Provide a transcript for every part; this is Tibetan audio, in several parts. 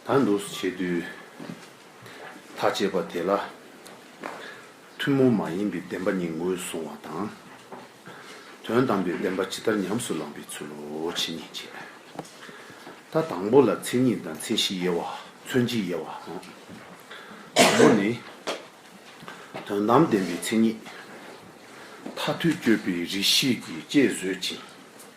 ད་འདུག་སུ་བྱེད་དུས། ཐག་བཅད་པ་དེ་ལ། ཐུན་མོང་མ་ཡིན་པའི་བདེན་པ་ཉིད་ངོས་བཟུང་བ་དང། དོན་དམ་པའི་བདེན་པ་ཇི་ལྟར་ཉམས་སུ་བླངས་པའི་ཚུལ་ལོ་ཇི་སྙེད་ཅེས། ད་དང་པོ་ལ་མཚན་ཉིད་དང་མཚན་གཞི་དབྱེ་བ་མཚོན་བྱེད་དབྱེ་བ་དང། དང་པོ་ནི། དོན་དམ་བདེན་པའི་མཚན་ཉིད། མཐའ་ཐུག་དཔྱོད་པའི་རིགས་ཤེས་ཀྱིས་དཔྱད་བཟོད་ཅིང།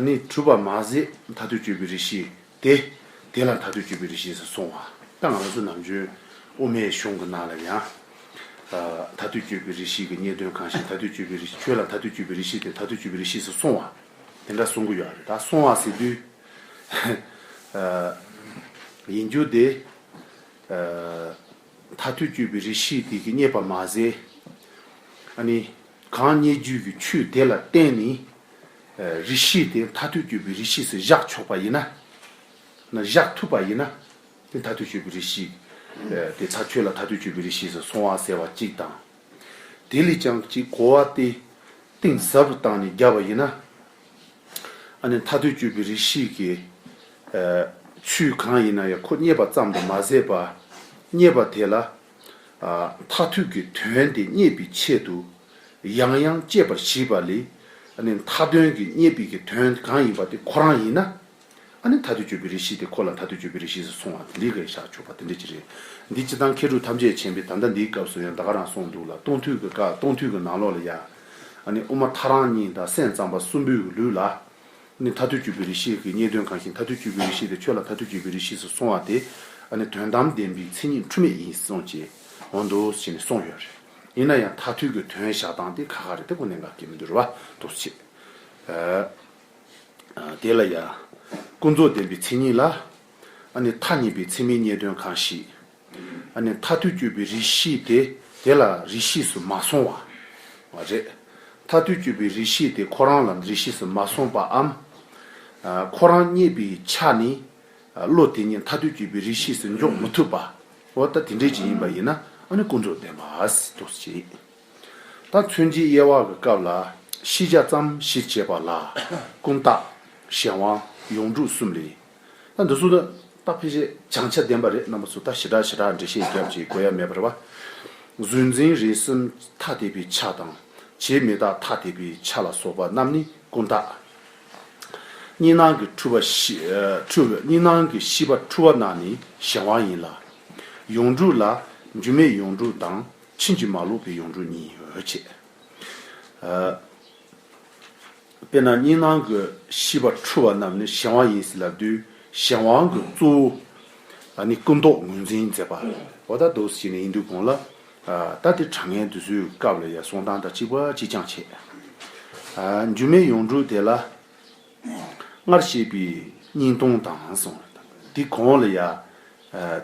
ནི་གྲུབ་པར་མ་ཟད་མཐའ་དུས་སྤྱོད་པའི་རི་ཞིག་སྟེ། དེ་ལ་མཐའ་དུས་སྤྱོད་པའི་རི་ཞེས་གསུང་བ། ད་ང་ཚོ་ནམ་རྒྱུན་དབུ་མའི་གཞུང་གི་ནང་ལ་ཡང། མཐའ་དུས་སྤྱོད་པའི་རི་ཞིག་གི་རྙེད་དོན་གང་ཞིག་མཐའ་དུས་སྤྱོད་པའི་རི་ཁྱོད་ལ་མཐའ་དུས་སྤྱོད་པའི་རི་ཞིག་སྟེ་མཐའ་དུས་སྤྱོད་པའི་རི་ཞེས་གསུང་བ། དེ་འདྲ་གསུང་གི་ཡོད་རེད་ད་གསུང་བ་ཟེར་དུས། ཡིན་རྒྱུ་དེ། མཐའ་དུས་སྤྱོད་པའི་རི་ཞིག་དེ་གི་རྙེད་པར་མ་ཟད། ནི་གང་སྙེད་རྒྱུད་ཀྱི་ཆོས་དེ་ལ་བརྟེན་ནས་རིགས་ཤེས་དེ་མཐའ་ཐོས་སྤྱོད་པའི་རིགས་ཤེས་སུ་བཞག་ཆོག་པ་ཡིན་ན། བཞག་ཐུབ་པ་ཡིན་ན། དེ་མཐའ་ཐོས་སྤྱོད་པའི་རིགས་ཤེས་དེ་ཚ་ཁྱོད་ལ་མཐའ་ཐོས་སྤྱོད་པའི་རིགས་ཤེས་སུ་སོང་བ་ཟེར་བ་གཅིག་དང། དེ་ལས་ཀྱང་གཅིག་གོ་བ་སྟེ། གཏིང་ཟབ་རུ་བཏང་ནས་བརྒྱབ་པ་ཡིན་ན། ཨ་ནི་མཐའ་ཐོས་སྤྱོད་པའི་རིགས་ཤེས་ཀྱི་ཚུལ་གང་ཡིན་ན་ཡང་ཁོ་རྙེད་པ་ཙམ་དུ་མ་ཟད་པ། རྙེད་པ་དེ་ལ་མཐར་ཐུག་གི་དོན་དེ་རྙེད་པའི་ཆེད་དུ་ཡང་ཡང་དཔྱད་པར་བྱེད་པ་ལས། མཐའ་དོན་གྱི་རྙེད་པའི་གི་དོན་གང་ཡིན་པ་དེ་ཁོ་རང་ཡིན་ན། མཐའ་དོན་སྤྱོད་པའི་རིགས་ཤེས་དེ་ཁོ་ལ་མཐའ་དོན་སྤྱོད་པའི་རིགས་ཤེས་སུ་སོང་བ་དེ་འདི་ག་ཡིས་བཞག་ཆོག་པ་དེ་འདྲ་ཅི་རེད། འདི་སྤྱི་དང་མཁས་གྲུབ་ཐམས་ཅད་མཁྱེན་པའི་ད་ལྟ་འདིའི་སྐབས་སུ་ཡང་ད་ག་རང་སོང་འདུག་ལ་སྟོང་ཐུག་གི་ག་སྟོང་ཐུག་གི་ནང་ལོགས་ལ་ཡ། དབུ་མ་མཐའ་རང་གཉིས་དང་སེམས་ཙམ་པ་གསུམ་པོའི་ལུས་ལ། ནི་ཐ་དུས་ཀྱི་བི་རི་ཤི་ཡི་རྙེད་དོན་གང་ཞིག་ཐ་དུས་ཀྱི་བི་རི་ཤི་དེ་ཁྱོད་ལ་ཐ་དུས་ཀྱི་བི་རི་ཤི་སུ་སོང་བ་དེ་ནི་དོན་དམ་བདེན་པའི་མཚན་ཉིད་འཁྲུལ་མེད་ཡིན་སོང་ཅེས་འོ་འདུག་ཅེས་ནས་སོང་ཡོད་རེད། ཡིན་ན་ཡང་ཐ་དུས་ཀྱི་དོན་བཞག་སྟངས་དེ་ཁ་ཁ་རེད་དེ་ཁོ་ནས་འགའ་སྐད་མི་འདོད་རེད་བ་འདུག་ཅེས། དེ་ལ་ཡང། ཀུན་རྫོབ་བདེན་པའི་མཚན་ཉིད་ལ། ནི་ཐ་སྙད་པའི་མཚན་མའི་རྙེད་དོན་གང་ཞིག། ནས་མཐའ་ཐུལ་བསྐྱོད་པའི་རིགས་ཤེས་དེ་དེ་ལ་རིགས་ཤེས་སུ་མ་སོང་བ། རེད། མཐའ་ཐུལ་བསྐྱོད་པའི་རིགས་ཤེས་དེ་ཁོ་རང་ལ་རིགས་ཤེས་སུ་མ་སོང་པའམ། ཁོ་རང་རྙེད་པའི་ཆ་ནས་བློ་དེ་ཉིད་མཐའ་ཐུལ་བསྐྱོད་པའི་རིགས་ཤེས་སུ་འཇོག་མི་ཐུབ་པ། འོ་ད་དེ་འདྲའི་ཅིག་ཡིན་པ་ཡིན་ན་ཨ་ནི་ཀུན་རྫོབ་བདེན་པ་དུ་བྱེད། ད་མཚོན་བྱེད་དབྱེ་བ་གི་སྐབས་ལ་ཤེས་བྱ་ཙམ་གཞིར་བྱས་པ་ལ་ཀུན་བཏགས་གཞན་དབང་ཡོངས་གྲུབ་གསུམ་ལས་ད་འདི་ཚོ་ནི་སྟག་ཕལ་ཆེར་བྱང་ཆ་ལྡན་པ་རེད་རྣམ་པ་ཚོ་ད་ཞི་དྲག་ཞི་དྲག་འགྲེལ་བཤད་རྒྱབ་ཀྱི་དགོས་ཡ་མེད་པར་བ། གཟུན་འཛིན་རེ་གསུམ་ཐ་དད་པའི་ཆ་དང་བྱེད་མི་རྟགས་ཐ་དད་པའི་ཆ་ལ་སོགས་པ་རྣམས་ནི་ཀུན་བརྟགས། གཉིས་སྣང་གི་འཁྲུལ་པ་གཉིས་སྣང་གི་ཤེས་པ་འཁྲུལ་བ་རྣམས་ནི་གཞན་དབང་ཡིན་ལ། ཡོངས་གྲུབ་ལ་རྒྱུ་མེད་ཡོངས་གྲུབ་དང་ཕྱིན་ཅི་མ་ལོག་པའི་ཡོངས་གྲུབ་གཉིས་ཡོད། དཔེར་ན་སྙིང་ནང་གི་ཤི་བ་འཁྲུལ་བ་རྣམས་ནི་གཞན་དབང་ཡིན་སྲིད་ལ་བདུད་གཞན་དབང་གི་གཙོ་བོ་ནི་སྐུ་མདོག་ངོས་འཛིན་མཛད་པ་བ་ད་དུ་ཞིག་ནས་ཡིན་དུས་གོང་ལ་ད་དེ་དྲང་ངེས་འདི་སུའི་སྐབས་ལ་ཡང་གསུང་སྟངས་དང་གཅིག་པ་གཅིག་རྐྱང་བྱས། འཇུ་མེད་ཡོངས་གྲུབ་དེ་ལ་སྔར་བཤད་པའི་སྙིང་སྟོང་དང་གསུང་དེ་གོང་ལ་ཡང་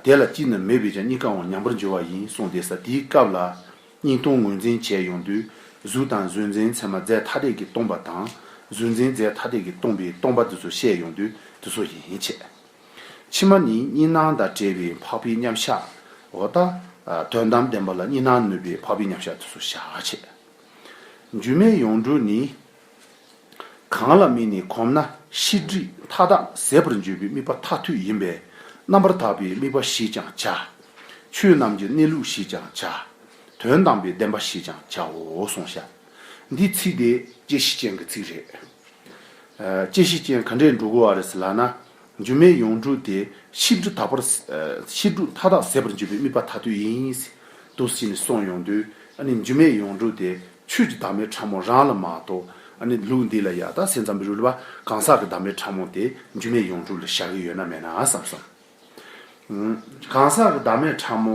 དེ་ལ་གཅིག་ནི་མེད་པས་ཀྱང་གཉིས་ཀའང་ཉམས་པར་འགྱུར་བ་ཡིན་གསུང་དེ་ས་དེའི་སྐབས་ལ་སྙིང་སྟོང་ངོས་འཛིན་བྱས་ཡོང་དུས་གཟུགས་དང་གཟུགས་འཛིན་མཚན་མ་རྫས་ཐ་དད་ཀྱིས་སྟོང་པ་དང། གཟུགས་འཛིན་རྫས་ཐ་དད་ཀྱིས་སྟོང་པའི་སྟོང་པ་འདི་ཚོ་བཤད་ཡོང་དུས་འདི་ཚོ་ཡིན་བྱས། ཕྱི་མ་ནི་གཉིས་སྣང་དང་བྲལ་བའི་འཕགས་པའི་མཉམ་གཞག་འོ་ད། དོན་དམ་བདེན་པ་ལ་གཉིས་སྣང་ནུས་པའི་འཕགས་པའི་མཉམ་གཞག་འདི་ཚོ་བྱ་བྱས། འགྱུར་མེད་ཡོངས་གྲུབ་ནི་གང་ལ་མིན་ནི་གོམས་ན་ཤེས་སྒྲིབ་མཐའ་དག་ཟད་པར་འགྱུར་བའི་དམིགས་པ་མཐའ་ཐུག་ཡིན་པས་རྣམ་པར་དག་པའི་དམིགས་པ་ཞེས་ཀྱང་བྱ། ཆོས་རྣམས་ཀྱི་གནས་ལུགས་ཞེས་ཀྱང་བྱ། དོན་དམ་པའི་བདེན་པ་ཞེས་ཀྱང་བྱའོ་གསུངས་ཤག། འདི་ཚིག་དེ་དཔྱད་གཞི་ཅན་གྱི་ཚིག་རེད། དཔྱད་གཞི་ཅན་ག་འདྲས་འགྲོ་དགོས་བ་རེད་ལགས་ན། སྒྱུ་མའི་ཡོངས་གྲུབ་དེ་ཤེས་སྒྲིབ་དག་པར། ཤེས་སྒྲིབ་མཐའ་དག་ཟད་པར་འགྱུར་བའི་དམིགས་པ་མཐའ་ཐུག་ཡིན། དུས་ཕྱིས་ནས་སོང་ཡོང་དུས་ནི་སྒྱུ་མའི་ཡོངས་གྲུབ་དེ་ཆོས་ཀྱི་བདག་མེད་ཕྲ་མོ་རང་ལ་མ་གཏོགས་ནི་ལུགས་འདི་ལ་ཡག་དག་སེམས་ཙམ་རུལ་བ་གང་ཟག་གི་བདག་མེད་ཕྲ་མོ་དེ་རྒྱུ་མེད་ཡོངས་གྲུབ་ལ་བཞག་གི་ཡོད་ན་མེད་ན་བསམ་བསམ། གང་ཟག་གི་བདག་མེད་ཕྲ་མོ་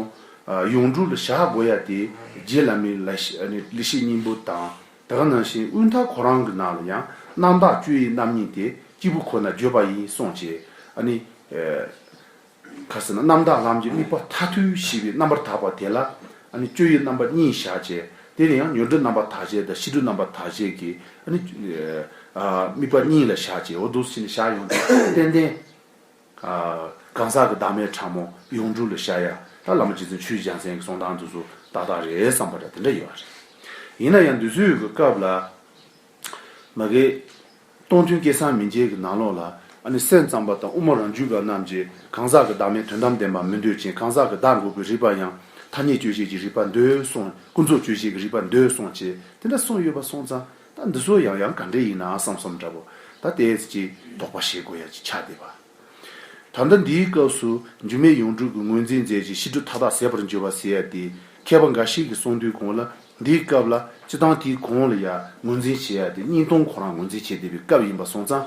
ཡོངས་གྲུབ་ལ་བཞག་དགོས་ཡ་དེ་རྗེ་བླ་མའི་ལི་ཤི་སྙིང་པོ་དང་དེ་ག་ནང་བཞིན་དབུས་མཐའ་ཁོ་རང་གི་ནང་ལ་ཡང་རྣམ་དག་བཅུ་ཡི་རྣམ་སྨིན་དེ་སྐྱེས་བུ་ཁོ་ན་བརྗོད་པ་ཡིན་སོང་ཅེས། ག་ཟེར་ན་རྣམ་དག་ལམ་གྱི་དམིགས་པ་མཐའ་ཐུལ་བཞི་པའི་རྣམ་པར་དག་པ་དེ་ལ་སྤྱོད་ཡུལ་རྣམ་པ་གཉིས་བཞག་ཅེས་དེ་ལ་ཡང་མྱུར་འགྲོ་རྣམ་པ་དག་བྱེད་དང་ཤི་འགྲོ་རྣམ་པ་དག་བྱེད་ཀྱི་དམིགས་པ་གཉིས་ལ་བཞག་ཅེས་འོ་དུག་སྲིན་ལ་བཞག་ཡོངས་འདུ་ཏན་ཏན། གང་ཟག་གི་བདག་མེད་ཕྲ་མོ་ཡོངས་གྲུབ་ལ་བཞག་ཡ་ད་བླ་མ་རྗེ་བཙུན་ཆོས་རྗེ་འཇམ་གསེང་གི་གསུང་དང་དུ་སུ་ཏག་ཏག་རེད་བསམ་པ་འདྲ་དེ་འདྲ་ཡོད་རེད། ཡིན་ན་ཡང་འདུས་ཚོད་ཀྱི་སྐབས་ལ། མ་གས། སྟོང་ཐུན་སྐད་གསང་མི་མཇལ་གྱི་ནང་ལོགས་ལ། ཨ་ནི་སེམས་ཙམ་པ་དང་དབུ་མ་རང་རྒྱུད་པ་རྣམས་ཀྱིས་གང་ཟག་གི་བདག་མེད་དོན་དམ་བདེན་པ་མི་འདོད་ཅིང་གང་ཟག་གི་བདག་འགོག་གི་རིགས་པ་ཡང་ཐ་སྙད་དཔྱོད་བྱེད་ཀྱི་རིགས་པ་འདོད་སོང་ཀུན་རྫོབ་དཔྱོད་བྱེད་ཀྱི་རིགས་པ་འདོད་སོང་བྱས་དེ་འདྲ་གསུངས་ཡོད་པ་སོང་ཙང་ད་འདི་ཚོ་ཡང་ཡང་ག་འདྲས་ཡིན་ནའང་བསམ་བསམ་འདྲ་བོ་ད་དེས་ཀྱི་དོགས་པ་བྱེད་དགོས་ཡ་ཅི་ཆ་དེ་བ། ད་ལྟ་འདིའི་སྐབས་སུ་འགྱུར་མེད་ཡོངས་གྲུབ་ཀྱི་ངོས་འཛིན་མཛད་ཅིང་ཕྱི་དྲོ་མཐའ་དག་ཟད་པར་འགྱུར་བ་ཟེར་ཡ་སྟེ། མཁས་པ་འགའ་ཞིག་གིས་གསུངས་དུས་གོང་ལ་འདིའི་སྐབས་ལ་སྤྱི་དང་དེའི་གོང་ལ་ཡང་ངོས་འཛིན་བྱེད་ཡ་སྟེ་སྙིང་སྟོང་ཁོ་རང་ངོས་འཛིན་བྱེད་བདེ་བའི་སྐབས་ཡིན་པར་གསུངས་ཙང།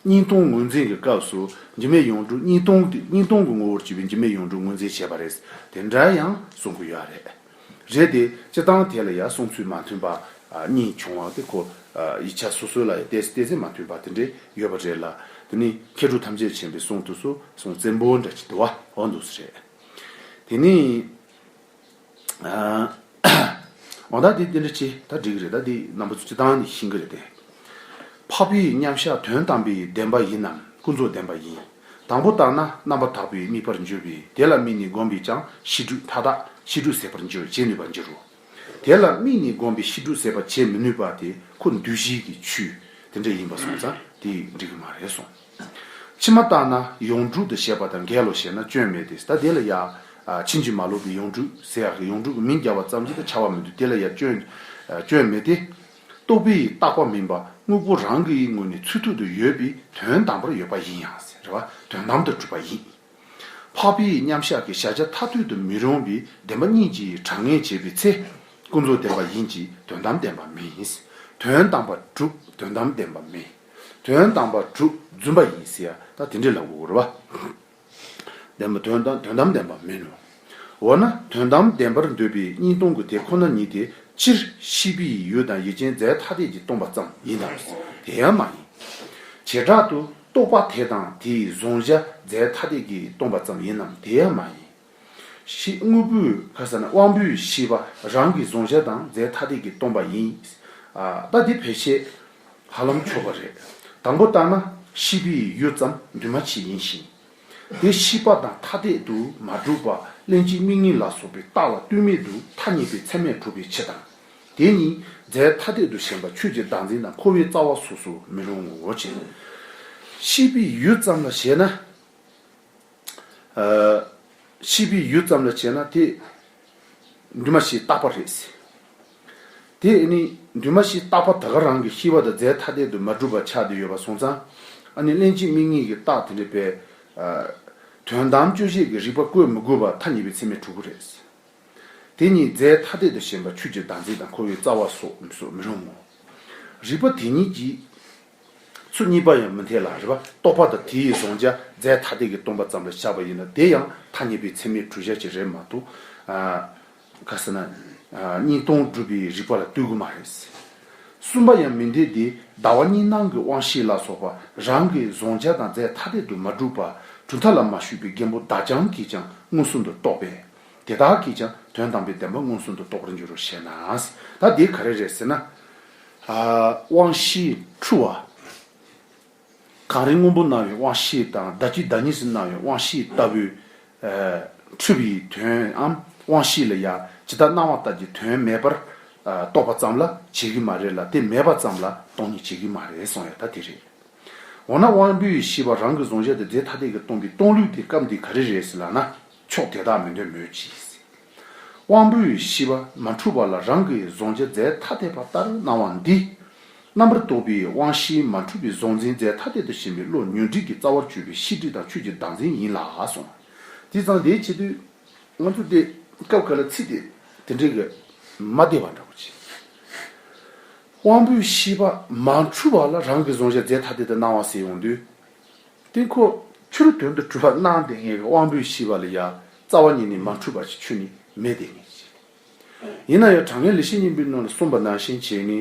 སྙིང་སྟོང་ངོས་འཛིན་གྱི་སྐབས་སུ་འགྱུར་མེད་ཡོངས་གྲུབ་སྙིང་སྟོང་སྙིང་སྟོང་གི་ངོ་བོར་གྱུར་པའི་འགྱུར་མེད་ཡོངས་གྲུབ་ངོས་འཛིན་བྱེད་པ་རེད་དེ་འདྲ་ཡང་གསུང་གི་ཡོད་རེད། རེད་དེ། སྤྱི་བཏང་ཐད་ལ་ཡང་གསུང་ཚུལ་མ་མཐུན་པ་གཉིས་བྱུང་བ་དེ་ཁོ། ཡིག་ཆ་སོ་སོའི་ལ་ཡང་བལྟས་བལྟས་ཚེ་མ་མཐུན་པ་དེ་འདྲས་ཡོད་པ་རེད་ལ། དེ་ནི་མཁས་གྲུབ་ཐམས་ཅད་མཁྱེན་པའི་གསུང་དུ་སུ་གསུང་བཙན་པོ་འདྲ་ཅི་དེ་བ་འོ་འདུག་ས་རེད། དེ་ནི། འོ་ད་དེ་དེ་འདྲ་ཅི་ད་འགྲིག་གི་རེད་ད་དེ་རྣམ་པ་ཚོ་སྤྱི་བཏང་ནས་ཤིང་གི་རེད་དེ། འཕགས་པའི་མཉམ་གཞག་དོན་དམ་པའི་བདེན་པ་ཡིན་ནམ་ཀུན་རྫོབ་བདེན་པ་ཡིན། དང་པོ་ལྟར་ན་རྣམ་པར་དག་པའི་དམིགས་པར་འགྱུར་བས་དེ་ལ་དམིགས་ནས་བསྒོམས་པས་ཀྱང་ཤི་དྲུག་མཐའ་དག་ཤི་དྲུག་ཟད་པར་མཇལ་བར་བྱེད་ནུས་པར་འགྱུར་རོ། དེ་ལ་དམིགས་ནས་བསྒོམས་པས་ཤི་དྲུག་ཟད་པར་བྱེད་མི་ནུས་པ་དེ་ཁོ་བདུད་བཞི་གི་ཆུ་དེ་འདྲ་ཡིན་པར་སོང་ཙང་དེས་འགྲིག་གི་མ་རེད་གསུངས། ཕྱི་མ་ལྟར་ན་ཡོངས་གྲུབ་ཏུ་བྱས་པ་དང་འགལ་ལོ་ཞེ་ན་སྐྱོན་མེད་དེ་ད་དེ་ལ་ཡང་ཕྱིན་ཅི་མ་ལོག་པའི་ཡོངས་གྲུབ་ཟེར་ཡང་ཡོངས་གྲུབ་ཀྱི་མིང་རྒྱབ་བ་ཙམ་གྱིས་ད་བྱ་བ་མི་འདུག་དེ་ལ་ཡང་སྐྱོན་མེད་དེ། རྟོག་པའི་ཡིད་རྟག་པ་མིན་པ་དངོས་པོ་རང་གི་ཡིད་ངོ་ནས་ཚུལ་ཐུག་ཏུ་ཡོད་པའི་དོན་དམ་པར་ཡོད་པ་ཡིན་ཡང་ཟེར་བ་དོན་དམ་དུ་གྲུབ་པ་ཡིན། འཕགས་པའི་མཉམ་གཞག་གི་བཞག་བྱ་ཐ་དུས་དུ་མི་རུང་བའི་བདེན་པ་གཉིས་ཀྱིས་གྲངས་ངེས་བྱེད་པའི་ཚེ། ཀུན་རྫོབ་བདེན་པ་ཡིན་གྱི་དོན་དམ་བདེན་པ་མིན། དོན་དམ་པར་གྲུབ་དོན་དམ་བདེན་པ་མིན། དོན་དམ་པར་གྲུབ་བརྫུན་པ་ཡིན་ཟེར་བ་དང་དེ་འདྲ་ལ་འུར་བ། ལྡན་པ་དོན་དམ་ལྡན་པ་མིན་ནོ། འོ་ན་དོན་དམ་བདེན་པར་འདོད་པའི་གཉིས་སྟོང་གི་དེ་ཁོ་ན་ཉིད་དེ་སྤྱིར་ཤེས་པས་ཡུལ་དང་ཡིད་ཅན་རྫས་ཐ་དད་ཀྱིས་སྟོང་པ་ཙམ་ཡིན་དམ། དེ་ཡང་མ་ཡིན། བྱེ་བྲག་ཏུ་རྟོག་པ་དེ་དང་དེའི་བཟུང་བྱ་རྫས་ཐ་དད་ཀྱིས་སྟོང་པ་ཙམ་ཡིན་ནམ་དེ་ཡང་མ་ཡིན། ཞེས་དངོས་པོའི་ཁ་ས་ནི་དབང་པོའི་ཤེས་པ་རང་གིས་བཟུང་བྱ་དང་རྫས་ཐ་དད་ཀྱིས་སྟོང་པ་ཡིན། ལྟ་འདི་བེད་སྤྱད་ཧ་ལམ་ཆོག་པ་རེད། དང་པོ་ལྟར་ན་ཤེས་པའི་ཡུལ་ཙམ་འདུས་མ་བྱས་ཡིན་ཞིང། དེ་ཤེས་པ་དང་ཐ་དད་དུ་མ་གྲུབ་པར་ལྷན་ཅིག་དམིགས་ངེས་ལ་སོགས་པའི་རྟགས་ལ་ལྟོས་མེད་དུ་ཐ་སྙད་པའི་ཚད་མས་གྲུབ་པའི་ཕྱིར་དང། དེ་ཉིད་རྫས་ཐ་དད་དུ་ཞེན་པ་ཆོས་ཀྱི་བདག་འཛིན་དང་འཁོར་བའི་རྩ་བ་སོགས་སུ་མི་རུང་ངོ། ཤེས་པའི་ཡུལ་ཙམ་ལ་བྱས་ན། ཤི་བའི་ཡུལ་ཙམ་ལ་བྱས་ན་དེ་འདུས་མ་བྱས་རྟག་པ་རེད། དེ་ནི་འདུས་མ་བྱས་རྟག་པ་དེ་ག་རང་གི་ཤི་བ་དང་རྫས་ཐ་དད་དུ་མ་གྲུབ་པར་ཆགས་ཏེ་ཡོད་པར་སོང་ཙང། ཨ་ནི་གླེང་བྱེད་དམིགས་ངེས་ཀྱི་རྟགས་དེ་འདྲ་བས། དོན་དམ་དཔྱོད་བྱེད་ཀྱི་རིགས་པ་བཀོད་མི་དགོས་པར་ཐ་སྙད་པའི་ཚད་མའི་དྲུག་པོ་རེད། དེ་ཉིད་རྫས་ཐ་དད་དུ་ཞེན་པ་ཆོས་ཀྱི་བདག་འཛིན་དང་འཁོར་བའི་རྩ་བ་སོགས་མི་རུང་ངོ། རིགས་པ་དེ་ཉིད་ཀྱིས། ཚུལ་གཉིས་པ་ཡང་མི་འཐད་ལ་རེ་བ་རྟོགས་པ་དང་དེ་ཡི་བཟུང་བྱ་རྫས་ཐ་དད་ཀྱི་སྟོང་པ་ཙམ་ལ་བཞག་པ་ཡིན་ན་དེ་ཡང་ཐ་སྙད་པའི་མཚན་མའི་གྲུ་ཆར་གྱི་རེད་མ་གཏོགས། ག་ཟེར་ན། གཉིས་སྟོང་སྒྲུབ་པའི་རིགས་པ་ལ་ལྟོས་གི་མ་རེད། གསུམ་པ་ཡང་མི་འཐད་དེ་ཟླ་བ་གཉིས་སྣང་གི་དབང་ཤེས་ལ་སོགས་པ་རང་གི་བཟུང་བྱ་དང་རྫས་ཐ་དད་དུ་མ་གྲུབ་པར་གྲུ་མཐའ་ལ་མ་ཞུགས་པའི་རྒན་པོ་བདག་ཅག་གིས་ཀྱང་མངོན་སུམ་དུ་རྟོགས་པས། དེ་དག་གིས་ཀྱང་དོན་དམ་པའི་བདེན་པ་མངོན་སུམ་དུ་རྟོགས་རིན་འགྱུར་རོ་ཞེ་ན། ད་དེ་ག་རེ་རེད་ཟེར་ན། དབང་བཞིའི་འཁྲུལ་བ། གངས་རི་སྔོན་པོ་སྣང་བའི་དབང་བཞི་དང་བདག་གི་བདག་ཉིད་སུ་སྣང་བའི་དབང་བཞི་ལྟ་བུའི། འཁྲུལ་པའི་དོནའམ་དབང་བཞི་ལ་ཡང་ཇི་ལྟར་སྣང་བ་ལྟར་གྱི་དོན་མེད་པར་རྟོགས་པ་ཙམ་ལ་བྱེད་ཀྱི་མ་རེད་ལ་དེ་མེད་པ་ཙམ་ལ་སྟོང་ཉིད་བྱེད་ཀྱི་མ་རེད་གསུངས་ཡོད་ད་དེ་རེད། འོ་ན་དབང་པོའི་བཞི་པ་རང་གི་གཟུང་བྱ་དེ་རྫས་ཐ་དད་ཀྱིས་སྟོང་པའི་སྟོང་ལུགས་དེ་སྐབས་འདིའི་ག་རེ་རེད་ཟེར་ལགས་ན་ཕྱོགས་དེ་དག་མི་འདོད་མོད་ཀྱི། དབང་པོའི་བཞི་པ་མ་འཁྲུལ་བ་ལ་རང་གི་གཟུང་བྱ་རྫས་ཐ་དད་པ་ལྟར་སྣང་བ་འདི། རྣམ་པར་རྟོག་པའི་དབང་བཞིའི་མ་འཁྲུལ་པའི་གཟུང་འཛིན་རྫས་ཐ་དད་དུ་ཞེན་པའི་བློ་ཉོན་སྒྲིག་གི་རྩ་བར་གཅོད་པའི་ཤེས་སྒྲིབ་དང་ཆོས་ཀྱི་བདག་འཛིན་ཡིན་ལགས་སོ། དེ་ཙམ་དེའི་ཕྱི་དུས། ང་ཚོ་དེ་སྐབས་ག་ལ་ཚིག་དེ་དེ་འདྲའི་གི་མ་བདེ་བ་འདྲ་པོ་བྱེད། དབང་པོའི་བཞི་པ་མ་འཁྲུལ་བ་ལ་རང་གི་གཟུང་བྱ་རྫས་ཐ་དད་དུ་སྣང་བ་ཟེར་ཡོང་དུས། སྟེང་འཁོར། ཆུ་རུ་དོན་དུ་གྲུབ་པར་སྣང་སྟེ་ངེས་པའི་དབང་པོས་ཤེས་པ་ལ་ཡང་རྩ་བ་ཉིད་ནི་མ་འཁྲུལ་པ་ཞིག་ཆོས་ཉིད་མེད་དེ་ངེས་ཤེས། ཡིན་ན་ཡང་དྲང་ངེས་ལས་ཤེས་གཉིས་པོའི་ནང་ལ་གསུམ་པ་ནང་ཞེན་བྱེད་ནི།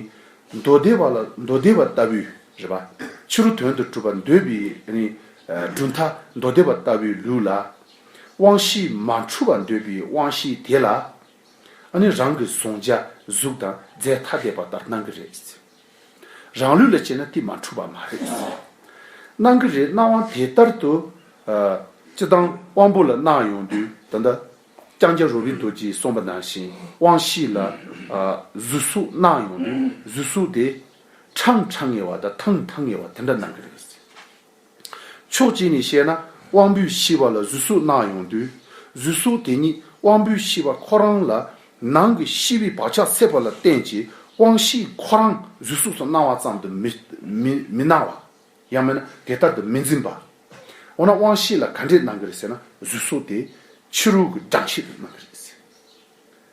མདོ་སྡེ་བ་ལ་མདོ་སྡེ་བ་ལྟ་བུའི་རེད་པ། ཕྱི་རུ་དོན་དུ་གྲུབ་པར་འདོད་པའི་ནི། གྲུབ་མཐའ་མདོ་སྡེ་བ་ལྟ་བུའི་ལུགས་ལ། དབང་བཞིས་མ་འཁྲུལ་བར་འདོད་པའི་དབང་བཞིའི་དེ་ལ། ནི་རང་གི་གཟུང་བྱ་གཟུགས་དང་རྫས་ཐ་དད་པ་ལྟར་སྣང་གི་རེད། རང་ལུས་ལ་བྱས་ན་དེ་མ་འཁྲུལ་བ་མ་རེད། གནང་གི་རེད་གནང་བ་དེ་ལྟར་དུ་སྤྱི་བཏང་དབང་པོ་ལ་གནང་ཡོང་དུས་ད་ལྟ་ལྕང་སྐྱ་རོ་བི་རྡོ་རྗེས་གསུངས་པ་ནང་བཞིན་དབང་བཞི་ལ་གཟུ་གཟུགས་གནང་ཡོང་དུས་གཟུ་གཟུགས་དེ་ཁྲང་ཁྲང་ངེ་བ་དང་ཐང་ཐང་ངེ་བ་དེ་འདྲ་གནང་གི་རེད། ཕྱོགས་གཅིག་ནས་བཤད་ན་དབང་པོའི་ཤེས་པ་ལ་གཟུགས་གཟུགས་སྣང་ཡོང་དུས་གཟུགས་གཟུགས་དེ་ཉིད་དབང་པོའི་ཤེས་པ་ཁོ་རང་ལ་ནང་གི་ཤེས་པའི་བག་ཆགས་ཚད་པ་ལ་བརྟེན་གྱི་དབང་ཤེས་ཁོ་རང་གཟུགས་གཟུགས་སུ་སྣང་བ་ཙམ་དུ་མི་སྣང་བ། ཡང་མིན་ན་དེ་ལྟར་དུ་མི་འཛིན་པ། འོ་ན་དབང་ཤེས་ལ་ག་འདྲས་སྣང་གི་རེད་ཟེར་ན་གཟུགས་གཟུགས་དེ་ཕྱི་རོལ་གྱི་སྦྲང་ཤེས་དུ་སྣང་གི་རེད།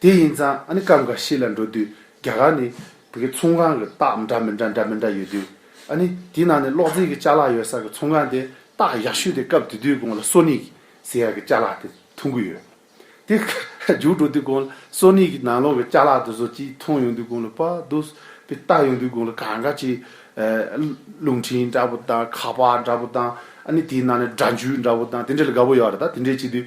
དེ་ཡིན་ཙང་ཨ་ནི་སྐབས་འགའ་ཤས་ལ་འགྲོ་དུས་རྒྱ་གར་ནི་བོད་ཀྱི་ཚོང་ཁང་གི་རྟགས་འདྲ་མི་འདྲ་འདྲ་མི་འདྲ་ཡོད་དུས་ཨ་ནི་དེའི་ནང་ནས་གློག་རྫས་ཀྱི་བཅའ་ལག་ཡོད་སར་གྱི་ཚོང་ཁང་དེ་རྟགས་ཡག་ཤོས་དེ་སྐབས་དེ་དུས་དགོངས་ལ་སོ་ནིག་ཟེར་ཡག་གི་བཅའ་ལག་དེ་མཐོང་གི་ཡོད། དེ་རྒྱུགས་འགྲོ་དུས་དགོངས་ལ་སོ་ནིག་གི་ནང་ལོགས་ཀྱི་བཅའ་ལག་དེ་བཟོ་ཅིག་མཐོང་ཡོང་དུས་དགོངས་ལ་པ་དུས་པའི་རྟགས་ཡོང་དུས་དགོངས་ལ་གང་ག་ཅིག་རླུང་འཕྲིན་འདྲ་པོ་དང་ཁ་པར་འདྲ་པོ་དང་ཨ་ནི་དེའི་ནང་ནས་སྒྲ་འཇུག་འདྲ་པོ་དང་དེ་འདྲ་ལ་དགའ་པོ་ཡོད་རེད་ད་དེ་འདྲས་བྱེད་དུས།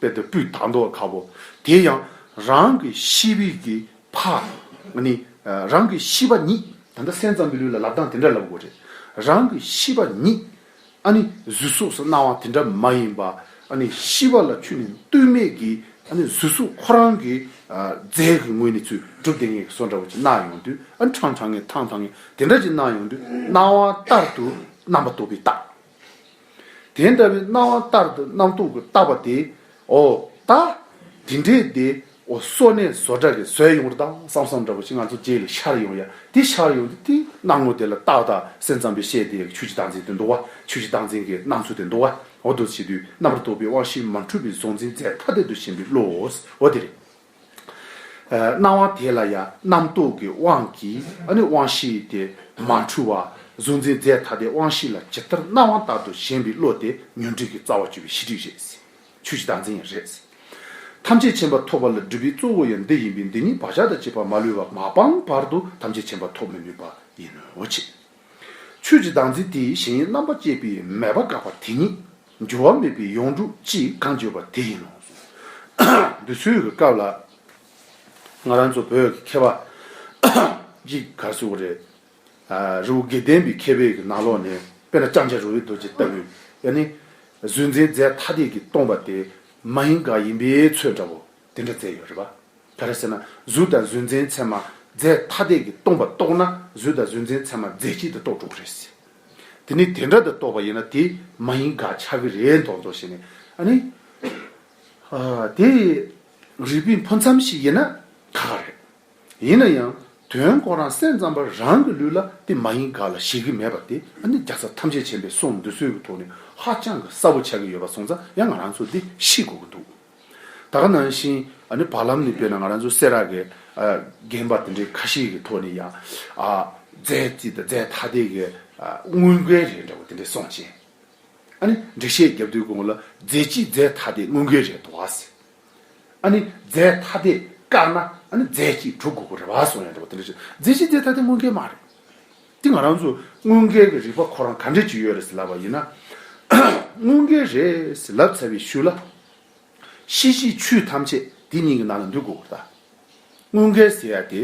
དཔལ་དུ་སྤྲུལ་དང་མདོག་ཁ་བོ་དེ་ཡང་རང་གི་ཤི་བིས་ཀྱི་ཕ་ནི་རང་གི་ཤི་བ་ཉིད་ད་ལྟ་སེམས་ཙམ་མི་ལུས་ལ་ལབ་སྟངས་དེ་འདྲ་ལབ་དགོས་རེད་རང་གི་ཤི་བ་ཉིད་ཨ་ནི་གཟུད་གཟུགས་སུ་སྣང་བ་དེ་འདྲ་མ་ཡིན་པ་ཨ་ནི་ཤི་བ་ལ་ཆུ་ནི་ལྟོས་མེད་ཀྱི་ཨ་ནི་གཟུད་གཟུགས་ཁོ་རང་གི་རྫས་ཀྱི་ངོས་ནས་ཚུལ་གྲུབ་ལྡན་ངེས་ཀྱི་སོ་འདྲ་བོ་ཅིག་སྣང་ཡོང་དུས་ཨ་ནི་ཁྲང་ཁྲང་ངེ་ཐང་ཐང་ངེ་དེ་འདྲ་ཅིག་སྣང་ཡོང་དུས་སྣང་བ་ལྟར་དུ་རྣམ་པ་རྟོག་པའི་རྟགས། དེ་འདྲ་བའི་སྣང་བ་ལྟར་དུ་རྣམ་རྟོག་གིས་བཏགས་པ་དེ་འོ་ད། དེ་འདྲའི་དེ་འོ་སོ་ནས་བཟོ་དགྲ་གི་ཟོས་ཡོང་རེ་ད་བསམ་བསམ་འདྲ་པོ་ཞིག་ང་ཚོ་རྗེས་ལས་ཤར་ཡོང་ཡ་དེ་ཤར་ཡོང་དེ་དེའི་སྣང་ངོ་དེ་ལ་ཏག་ཏག་སེམས་ཙམ་པས་བཤད་དེ་ཆོས་ཀྱི་བདག་འཛིན་དེ་འདུག་བ་ཆོས་ཀྱི་བདག་འཛིན་གྱི་སྣང་ཚུལ་དེ་འདུག་བ་འོ་དོ་བྱེད་དུས་རྣམ་པར་རྟོག་པའི་དབང་ཤེས་མ་འཁྲུལ་བའི་གཟུང་འཛིན་རྫས་ཐ་དད་དུ་ཞེན་པའི་བློའོ་འོ་དེ་རེད། སྣང་བ་དེ་ལ་ཡང་རྣམ་རྟོག་གི་དབང་གིས་ནི་དབང་བཞི་དེ་མ་འཁྲུལ་བ་གཟུང་འཛིན་རྫས་ཐ་དད་དབང་བཞི་ལ་ཇི་ལྟར་སྣང་བ་ལྟར་དུ་ཞེན་པའི་བློ་དེ་ཉོན་སྒྲིབ་ཀྱི་རྩ་བ་གཅོད་པའི་ཤེས་སྒྲིབ་རེད། ཆོས་ཀྱི་བདག་འཛིན་ཡང་རེད། ཐམས་ཅད་མཁྱེན་པ་ཐོབ་པ་ལ་སྒྲིབ་པའི་གཙོ་བོ་ཡང་འདི་ཡིན་པས་འདི་ཉིད་བག་ཆགས་དང་བཅས་པ་མ་ལུས་པ་མ་སྤངས་བར་དུ་ཐམས་ཅད་མཁྱེན་པ་ཐོབ་མི་ནུས་པ་ཡིན་ནོ། ཆོས་ཀྱི་བདག་འཛིན་དེའི་གཞན་ཡིད་རྣམ་པར་བཅད་པའི་མེད་པ་འགགས་པ་དེ་ཉིད་འགྱུར་བ་མེད་པའི་ཡོངས་གྲུབ་ཅེས་གང་བརྗོད་པ་དེ་ཡིན་ནོ། འདུལ་ཚུལ་གྱི་སྐབས་ལ། ང་རང་ཚོ་བོད་ཀྱི་མཁས་པ་གཅིག་གར་སོང་བ་རེད། རི་བོ་དགེ་ལྡན་པའི་མཁས་པའི་ནང་ལོགས་ནས་དཔེར་ན་ལྕང་སྐྱ་རོལ་བའི་རྡོ་རྗེ་ལྟ་བུའི་ཡ་ནི། གཟུགས་མཛེས་རྫས་ཐ་དད་ཀྱིས་སྟོང་པ་དེ་མ་ཡིན་དགག་ཡིན་པའི་ཚུལ་འདྲ་བོ་དེ་འདྲ་མཛད་ཡོད་རེད་པ། ག་རེ་ཟེར་ན་གཟུགས་དང་གཟུགས་མཛེས་མཚན་མ་རྫས་ཐ་དད་ཀྱིས་སྟོང་པར་རྟོགས་ན་གཟུགས་དང་གཟུགས་མཛེས་མཚན་མ་རྫས་གཅིག་ཏུ་རྟོགས་འགྲོ་གི་རེད། དེ་ནི་དེ་འདྲ་དུ་རྟོགས་པ་ཡིན་ན་དེ་མ་ཡིན་དགག་བྱ་གི་རེད་མདོག་མདོག་བྱས་ནས་ཨ་ནི། དེ་རིགས་པའི་འཕོ་མཚམས་ཤིག་ཡིན་ན་ཁག་ཁག་རེད། ཡིན་ན་ཡང་དོན་སྐོར་རང་སེམས་ཙམ་པ་རང་གི་ལུས་ལ་དེ་མ་ཡིན་དགག་ལ་བཞེད་གི་མེད་པ་དེ་ཨ་ནི་རྒྱ་བཟའ་ཐམས་ཅད་བྱེད་པའི་སྲོག་འདོད་ཚུལ་གྱི་ཐོག་ནས་ཧ་ཅང་གི་གསལ་པོ་ཆགས་ཀྱི་ཡོད་པ་སོང་ཙང་ཡང་ང་རང་ཚོ་འདི་ཤི་དགོས་ཀྱི་འདུག། ད་ག་ནང་བཞིན་ཨ་ནི་བར་ལམ་ནས་བལྟས་ན་ང་རང་ཚོ་སེ་ར་གའི་རྒན་པ་དེ་འདྲའི་ཁ་ཤས་ཀྱི་ཐོག་ནས་ཡང་རྫས་རྩིས་དང་རྫས་ཐ་དད་ཀྱི་དངུལ་འགན་རེད་འདྲ་བོ་དེ་འདྲས་སོང་རྗེས། ཨ་ནི་འགྲེལ་བཤད་བརྒྱབ་དུས་ཁོང་ལ་རྫས་ཀྱིས་རྫས་ཐ་དད་དངུལ་འགན་རེད་དོ་ཟེར། ཨ་ནི་རྫས་ཐ་དད་བཀག་ན་ཨ་ནི་རྫས་ཀྱིས་གྲུབ་དགོས་པ་རེད་བ་སོང་ཡང་འདྲ་བོ་དེ་འདྲས་བྱས། རྫས་ཀྱིས་རྫས་ཐ་དད་དངུལ་འགན་མ་རེད། དེ་ང་རང་ཚོ་དངུལ་འགལ་གྱི་རིག་པ་ཁོ་རང་ག་འདྲས་ཀྱི་ཡོད་རེད་ཟེར་ལབ་པ་ཡིན་ན། དངུལ་འགལ་རེད་ཟེར་ལབ་ཚར་བའི་ཤུལ་ལ། ཤེས་བཞིན་ཆུ་ཐམས་ཅད་དེ་གཉིས་ཀྱི་ནང་ལ་འདུས་དགོས་པར་གདའ། དངུལ་འགལ་ཟེར་ཡ་དེ་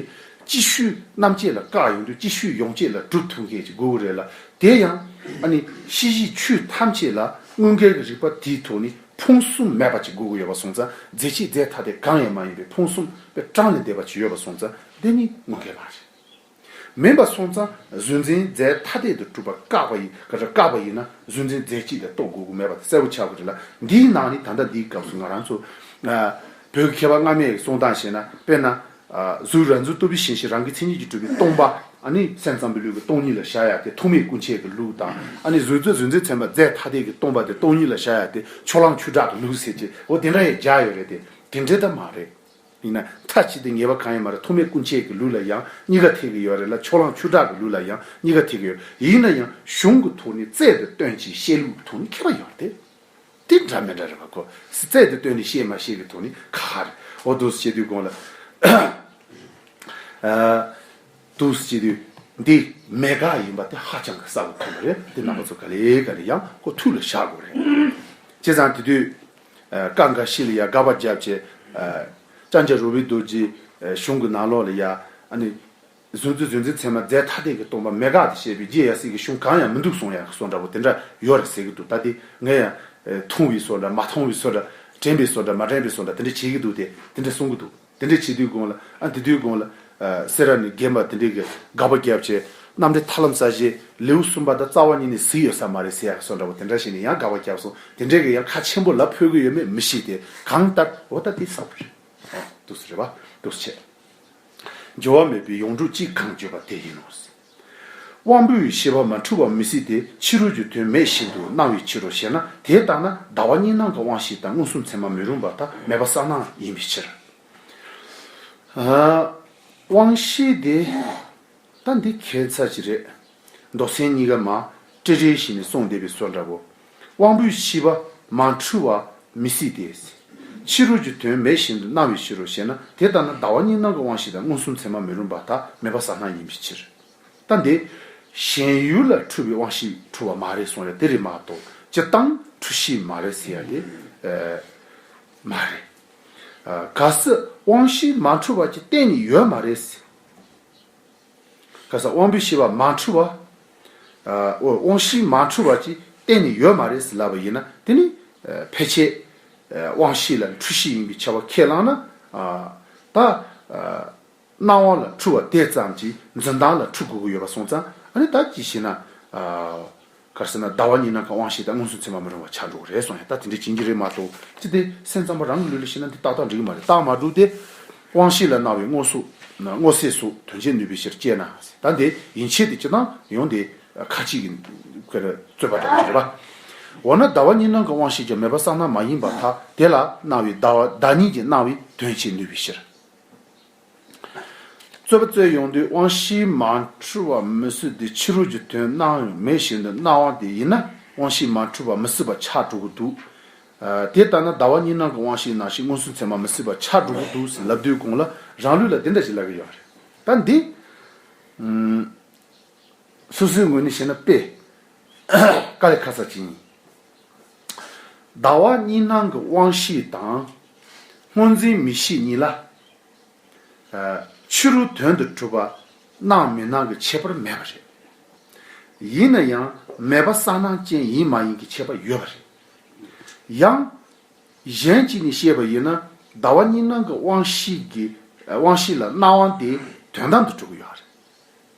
ཅི་ཤུལ་རྣམ་བཅད་ལ་བཀག་ཡོང་དུས་ཅི་ཤུལ་ཡོངས་བཅད་ལ་གྲུབ་ཐུབ་མཁན་ཞིག་དགོས་ཀྱི་རེད་ལ་དེ་ཡང། ཨ་ནི་ཤེས་བཞིན་ཆུ་ཐམས་ཅད་ལ་དངུལ་འགལ་གྱི་རིག་པ་དེའི་ཐོག་ནས་ཕུང་སུམ་མེད་པ་ཅིག་དགོས་ཀྱི་ཡོད་པ་སོང་ཙང་རྫས་ཆེས་རྫས་ཐ་དད་གང་ཡང་མ་ཡིན་པའི་ཕུང་སུམ་པས་སྐྲངས་ནས་བསྡད་པ་ཅིག་ཡོད་པ་སོང་ཙང་དེ་ནི་དངུལ་འགལ་མ་རེད། མིན་པར་སོང་ཙང་གཟུན་འཛིན་རྫས་ཐ་དད་དུ་གྲུབ་པར་བཀག་པ་བཀག་པ་ཡིན་ན་གཟུན་འཛིན་རྫས་གཅིག་ལས་རྟོགས་དགོས་དགོས་མེད་པ་དེ་གསལ་བོ་ཆགས་དགོས་རེད་ལ་འདིའི་ནང་ནི་ད་ལྟ་འདིའི་སྐབས་སུ་ང་རང་ཚོ་བོད་ཀྱི་མཁས་པ་སྔ་མའི་གསུང་སྟངས་བཤད་ན་དཔེར་ན་གཟུགས་རང་གཟུགས་ལྟ་བུའི་ཞེན་ཞིག་རང་གི་མཚན་ཉིད་ཀྱིས་གྲུབ་པའི་སྟོང་པ་ཨ་ནི་སེམས་ཙམ་པའི་ལུས་ཀྱི་སྟོང་ཉིད་ལ་བཞག་ཡ་དེ་ཐུག་མེད་སྐུ་མཆེད་ཀྱི་ལུགས་དང་ཨ་ནི་གཟུགས་གཟུན་འཛིན་ཚན་པ་རྫས་ཐ་དད་ཀྱི་སྟོང་པ་དེ་སྟོང་ཉིད་ལ་བཞག་ཡ་དེ་ཕྱོགས་གླང་ཆུ་བྲག་གི་ལུགས་ཟེར་གྱི་འོ་དེ་འདྲ་ཡ་བཞག་ཡོད་རེད་དེ་དེ་འདྲའི་ད་མ་རེད། ཡིན་ན་མཐའ་གཅིག་ཏུ་ངེས་པ་གང་ཡིན་མ་རེད་ཐོག་མའི་སྐུ་མཆེད་ཀྱི་ལུགས་ལ་ཡང་གཉིས་ཀ་ཐེག་གི་ཡོད་རེད་ལ་ཕྱོགས་གླང་ཆུ་བྲག་གི་ལུགས་ལ་ཡང་གཉིས་ཀ་ཐེག་གི་ཡོད་ཡིན་ན་ཡང་གཞུང་གི་ཐོག་ནས་རྩལ་དེ་སྟོན་ཅིག་བཤད་ལུགས་ཀྱི་ཐོག་ནས་མཁས་པ་ཡོད་རེད་དེ་འདྲ་མི་འདྲ་རེད་བ་ཁོ་རྩལ་དེ་སྟོན་ནས་བཤད་མ་བཤད་ཀྱི་ཐོག་ནས་ཁ་ཁ་རེད་འོ་དུས་སུ་སྐྱེས་དུས་གང་ལ་དུས་སུ་སྐྱེས་དུས་འདི་མེད་དགག་ཡིན་པ་དེ་ཧ་ཅང་གི་གསལ་བོ་མཐོང་གི་རེད་དེ་རྣམ་པ་ཚོ་ག་ལེ་ག་ལེ་ཡང་ཁོ་ཐུགས་ལ་བཞག་དགོས་རེད་བྱས་ཙང་དེ་དུས་ཀ་འགའ་ཤི་ལ་ཡ་དགའ་བ་བརྒྱབ། ཅེས་ལྕང་སྐྱ་རུ་བའི་རྡོ་རྗེའི་གཞུང་གི་ནང་ལོགས་ལ་ཡ། བཟོད་མཛོད་བཟོད་འཛིན་ཚད་མ་རྫས་ཐ་དད་ཀྱི་སྟོང་པ་མེད་དགག་ཏུ་བཤད་པའི་རྗེས་ཡ་སྲིད་ཀྱི་གཞུང་གང་ཡང་མི་འདུག་སོང་ཡ་གི་སོ་འདྲ་བོ་དེ་འདྲ་ཡོད་རེད་ཟེར་གྱི་འདུག་ད་ལྟའི་ངས་ཡང། ཐུང་བའི་སོ་འདྲ་མ་ཐུང་བའི་སོ་འདྲ། དྲན་པའི་སོ་འདྲ་མ་དྲན་པའི་སོ་འདྲ་དེ་འདྲ་བྱེད་ཀྱི་འདུག་སྟེ་དེ་འདྲ་གསུང་གི་འདུག། དེ་འདྲས་བྱེད་དུས་དགོངས་ལ། ཨ་འདི་དུས་དགོངས་ལ། སེ་ར་ནི་རྒན་པ་དེ་འདྲས་ཀྱིས་དགག་པ་རྒྱབ་བྱས། གནམ་འདྲེ་ཐར་ལམ་ས་གཞི་ལེའུ་གསུམ་པ་དང་རྩ་བ་གཉིས་ནི་བཟི་ཡོད་ས་མ་རེད་ཟེར་ཡག་གི་སོ་འདྲ་བོ་དེ་འདྲ་ཞིག་ནས་ཡང་དགག་པ་རྒྱབ་སོང་དེ་འདྲས་ཀྱིས་ཡང་ཁ་ཆེན་པོ་ལ་འཕོས་གི་ཡོད་མེད་མི་ཤེས་ཏེ་གང་ལྟར་འོ་ད་དེ་ཟ་བོ་རེད། ཨོ་དུས་སུ་རེད་བ། དུས་སུ་བྱས། འགྱོ་བ་མེད་པའི་ཡོངས་གྲུབ་ཅིག་གང་བརྗོད་པ་དེ་ཡིན་ནོ། དབང་པོའི་ཤེས་པ་མ་འཁྲུལ་བ་མི་སྲིད་དེ་ཕྱི་རོལ་གྱི་དོན་མེད་བཞིན་དུ་སྣང་བའི་ཕྱིར་རོ་ཞེ་ན་དེ་ལྟ་ན་ཟླ་བ་གཉིས་སྣང་གི་དབང་ཤེས་དང་མངོན་སུམ་མཚན་མ་མི་རུང་བ་ཐ་མལ་པ་ས་སྣང་ཡིན་པའི་ཕྱིར། དབང་ཤེས་དེ་ད་འདི་ཁའི་མཚར་གྱི་རེད། མདོ་ཚན་གཉིས་ཀ་མ་སྤྲེ་སྤྲེའི་བཞིན་ནས་སོང་བསྡད་པའི་སོ་འདྲ་བོ། དབང་པོའི་ཤི་བ་མ་འཁྲུལ་བ་མི་སྲིད་དེ། ཕྱི་རོལ་གྱི་དོན་མེད་བཞིན་དུ་སྣང་བའི་ཕྱིར་རོ་ཞེ་ན་དེ་ལྟར་ན་ཟླ་བ་གཉིས་སྣང་གི་དབང་ཤེས་དང་མངོན་སུམ་མཚན་མ་མི་རུང་བ་དག་མེད་པ་ཟ་སྣང་ཡིན་པའི་ཕྱིར། ལྟ་འདི། གཞན་ཡུལ་ལ་འཁྲུལ་བའི་དབང་ཤེས་འཁྲུལ་བ་མ་རེད་གསུང་ཡ་དེ་རེད་མ་གཏོགས་སྤྱི་གཏང་འཁྲུལ་ཤེས་མ་རེད་ཟེར་ཡ་དེ་མ་རེད། གལ་སྲིད་དབང་ཤེས་མ་འཁྲུལ་བ་ཅིག་གཏན་ནས་ཡོད་མ་རེད། ཁ་སང་དབང་པོའི་ཤེས་པ་མ་འཁྲུལ་བ། ཨོ། དབང་བཞི་མ་འཁྲུལ་བ་ཅིག་གཏན་ནས་ཡོད་མ་རེད་ཟེར་ལབ་པ་ཡིན་ན་དེ་ནི་ཕལ་ཆེར། དབང་བཞི་ལ་འཁྲུལ་གཞི་ཡིན་པའི་ཆ་བ་ཁས་བླངས་ན། ད། སྣང་བ་ལ་འཁྲུལ་བ་དེ་ཙམ་གྱིས་འཛིན་སྟངས་ལ་འཁྲུལ་དགོས་ཀྱི་ཡོད་པ་སོང་ཙང་ཨ་ནི་ད་ཅི་ཞེ་ན། གར་ཟེར་ན་ཟླ་བ་གཉིས་ནང་ཁང་དབང་བཞེས་ཏེ་སྔོན་སོང་ཚད་མ་མི་རུང་བ་བྱ་འགྲོ་གི་རེད་སོང་ཡང་ད་དེ་འདྲའི་བྱིན་གྱི་རེ་མ་ཐོག་ཅི་སྟེ་སེམས་ཙམ་པ་རང་གི་ལུས་ལ་ཤི་ན་འདི་ཏག་ཏག་འགྲིག་གི་མ་རེད་རྟགས་མ་གྲུབ་སྟེ། དབང་བཞེས་ལ་གནང་བའི་སྔོ་སངས་སུ་དོན་བྱེད་ནུས་པའི་ཕྱིར་སྐྱེས་ན་ད་འདི་ཡིན་ཆད་དེ་སྤྱི་དང་ཡོང་དེ་ཁ་གཅིག་གི་རྩོད་པ་འདྲ་བོ་རེད་པ། འོ་ན་ཟླ་བ་གཉིས་ནང་གི་དབང་བཞེས་ཀྱང་མེད་པ་སངས་ན་མ་ཡིན་པར་ཐག་དེ་ལ་གནང་བའི་ཟླ་གཉིས་ཀྱིས་གནང་བའི་དོན་བྱེད་ནུས་པའི་ཕྱིར། རྩོད་པ་རྩོད་ཡོང་དུས་དབང་བཞིའི་མ་འཁྲུལ་བ་མི་བསུ་དེ་ཕྱི་རོལ་གྱི་དོན་སྣང་ཡང་མེད་བཞིན་དུ་སྣང་བ་དེ་ཡིན་ན་དབང་བཞིའི་མ་འཁྲུལ་བ་མི་བསུ་བ་ཆགས་འགྲོ་གི་འདུག་དེ་ལྟ་ན་ཟླ་བ་གཉིས་ནང་གི་དབང་བཞིའི་ནང་བཞིན་མངོན་སུམ་ཚད་མ་མི་བསུ་བ་ཆགས་འགྲོ་གི་འདུག་ཟེར་ལབ་དུས་དགོངས་ལ་རང་ལུས་ལ་དེ་འདྲ་ཞིག་ལབ་ཀྱི་ཡོད་རེད་ད་འདི་སོ་སོའི་ངོས་ནས་བཤད་ན་དཔེ་ཀ་ལས་ཁ་གསལ་ཅི་ཡིན། ཟླ་བ་གཉིས་སྣང་གི་དབང་བཞི་དང། སྔོ་འཛིན་མི་ཤིས་གཉིས་ལ། ཕྱི་རུ་དོན་དུ་གྲུབ་པ་སྣང་མི་སྣང་གི་ཁྱད་པར་མེད་པ་རེད། ཡིན་ན་ཡང་མེད་པ་གསང་སྣང་ཅན་ཡིན་མ་ཡིན་གྱི་ཁྱད་པར་ཡོད་པ་རེད། ཡང། གཞན་གྱིས་ནི་ཤེས་པ་ཡིན་ན་ཟླ་བ་གཉིས་སྣང་གི་དབང་བཞི་ལ་སྣང་དབང་དེ་དོན་དམ་དུ་གྲུབ་ཀྱི་ཡོད་རེད།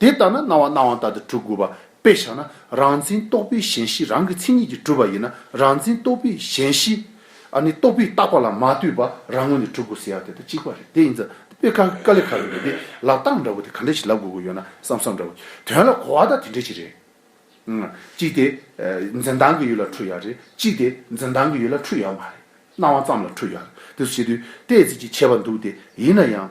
དེ་ལྟར་ན་སྣང་བ་སྣང་བ་ལྟར་དུ་གྲུབ་དགོས་པ་དཔེ་བཞག་ན་རང་མཚན་རྟོགས་པའི་གཞན་གཤིས་རང་གི་མཚན་ཉིད་ཀྱིས་གྲུབ་པ་ཡིན་ན་རང་མཚན་རྟོགས་པའི་གཞན་གཤིས་ཨ་ནི་རྟོགས་པའི་བཏགས་པ་ལ་མ་ལྟོས་པར་རང་ངོས་ནས་གྲུབ་དགོས་ཟེར་ཡག་དེ་དང་གཅིག་པ་རེད་དེ་ཡིན་ཙང་དཔེ་ཁ་ཁ་ལེ་ཁ་ལེ་རེད་དེ་ལ་རྟགས་འདྲ་བོ་དེ་ག་འདྲ་ཞིག་ལབ་དགོས་དགོས་ཡོད་ན་བསམ་བསམ་འདྲ་བོ་དོན་ལ་གོ་བ་དང་དེ་འདྲ་ཞིག་རེད། གཅིག་དེ་འཛིན་སྟངས་ཀྱི་ཡུལ་ལ་འཁྲུལ་ཡག་རེད་གཅིག་དེ་འཛིན་སྟངས་ཀྱི་ཡུལ་ལ་འཁྲུལ་ཡག་མ་རེད་སྣང་བ་ཙམ་ལ་འཁྲུལ་ཡག་རེད་དེ་ཚོ་བྱེད་དུས་ལྟས་ཚིག་ཅིག་བྱས་པ་འདུག་དེ་ཡིན་ན་ཡང།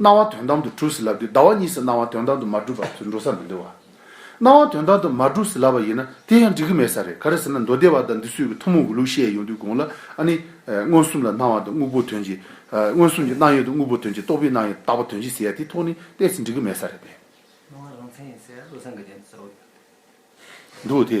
སྣང་བ་དོན་དམ་དུ་གྲུབ་ཟིན་ལབ་དུས་ཟླ་བ་གཉིས་སུ་སྣང་བ་དོན་དམ་དུ་མ་གྲུབ་པར་དུད་འགྲོ་ས་མི་འདུག་བ། སྣང་བ་དོན་དམ་དུ་མ་གྲུབ་ཟིན་ལབ་པ་ཡིན་ན་དེ་ཡང་འགྲིག་གི་མེད་ས་རེད་ག་རེ་ཟེར་ན་མདོ་སྡེ་བ་དང་འདི་སུས་ཀྱི་ཐུན་མོང་གི་ལུགས་བཤད་ཡོང་དུས་དགོངས་ལ་ཨ་ནི། མངོན་སུམ་ལ་སྣང་བ་དང་དངོས་པོ་དོན་གྱིས། མངོན་སུམ་གྱི་སྣང་ཡུལ་དང་དངོས་པོ་དོན་གྱིས་རྟོགས་པའི་སྣང་ཡུལ་དག་པ་དོན་གྱིས་ཟེར་ཡ་དེ་ཐོག་ནས་བལྟས་ཚེ་འགྲིག་གི་མེད་ས་རེད་པས། སྣང་བ་རང་མཚན་ཡིན་ཟེར་བློ་སེང་གི་དོན་དུ་ཟེར་བ་ཡོད། འདུག་དེ།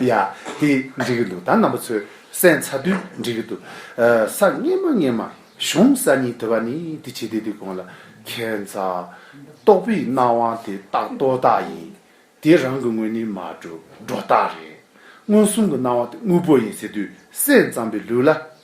ཡ། དེ་འགྲིག་གི་འདུག་ད་རྣམ་པ་ཚོས་སྲན་ཚ་དུས་འགྲིག་གི་འདུག། ས་སྙེ་མ་སྙེ་མ་གཞུང་ས་གཉིས་དེ་བ་ནི་དེ་བྱེད་དེ་དེ་གོང་ལ་ཁྱད་མཚར། རྟོགས་པའི་སྣང་དབང་དེ་རྟག་རྟོགས་རྟགས་ཡིན། དེ་རང་གི་དངོས་ནི་མ་གྲུབ་སྒྲོ་རྟགས་རེད། མངོན་སུམ་གྱི་སྣང་བ་དེ་དངོས་པོ་ཡིན་ཟེར་དུས་སྲན་ཙམ་པའི་ལུས་ལ།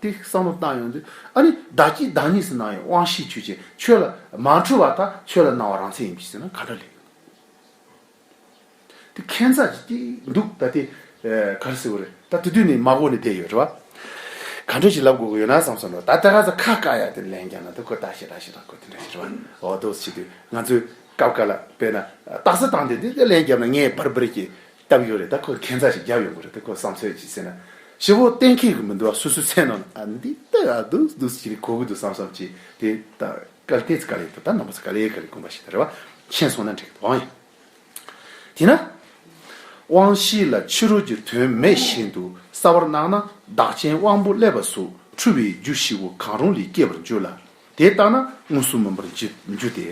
ཏེ་བསམ་བློ་བཏང་ཡོང་དུས་ཨ་ནི་བདག་སྐྱིད་བདག་གཉིས་སུ་སྣང་ཡོང་དབང་ཤེས་ཆོས་ཅན་ཆོས་ལ་མ་འཁྲུལ་བ་དང་ཆོས་ལ་སྣང་བ་རང་མཚན་ཡིན་པའི་ཕྱིར་ན་ག་འདྲ་ལེགས། དེ་ཁན་ཚ་ཅིག་སྐྱིད་འདུག་ད་དེ་ག་རེ་ཟེར་བ་རེད་ད་དེ་དུས་ནས་མ་གོ་ནས་བསྡད་ཡོད་རེད་བ། ག་འདྲས་ཞིག་ལབ་དགོས་ཀྱི་ཡོད་ན་བསམ་བསམ་རོགས་ད་ལྟ་ག་ཚ་ཁ་བཀག་ཡ་དེ་ལན་རྒྱག་ན་དུ་ཁོ་ད་ཞེ་དྲག་ཞེ་དྲག་ཁོ་དེ་འདྲ་ཞེ་དྲག་བ་འོ་དོགས་སུ་བྱེད་དུས་ང་ཚོས་སྐབས་ག་ལ་བས་ན་སྟག་ཟ་བཏང་སྟེ་དེ་ལན་རྒྱབ་ན་ངས་སྦར་སྦར་གྱིས་བཏབ་ཡོད་རེད་ད་ཁོས་ཁེ་མཛའ་ཞིག་བརྒྱབ་ཡོང་གི་རེད་དེ་ཁོའི་བསམ་ཚོད་ཅིག་ཟེར་ན་ཞེ་བོ་གཏན་འཁེལ་གི་མི་འདུག་སོ་སོའི་མཚན་ནང་ལ་འདི་ལྟ་ག་འདུག་འདུག་ཅི་རིགས་གོ་གི་འདུག་བསམ་བསམ་ཅིག་དེ་ད་ག་ལ་དེ་ཚོ་ག་ལས་འདུག་ད་ནང་པ་ཚོ་ག་ལས་ག་ལས་དགོན་པ་ཞིག་ད་རེ་བ་ཤེས་སོང་ན་འགྲིག་གི་འདུག་ཨང་ཡང། དེས་ན། དབང་ཤེས་ལ་ཕྱི་རོལ་གྱི་དོན་མེད་བཞིན་དུ་གསར་བར་སྣང་ན་བདག་ཅན་དབང་པོ་ཀླད་པ་གཟུགས་འཁྲུལ་བའི་རྒྱུ་ཞི་བོ་གང་རུང་ལས་སྐྱེས་པར་འགྱུར་ལ། དེ་ལྟ་ན་དངོས་གཟུགས་མིན་པར་འགྱུར་ཏེ།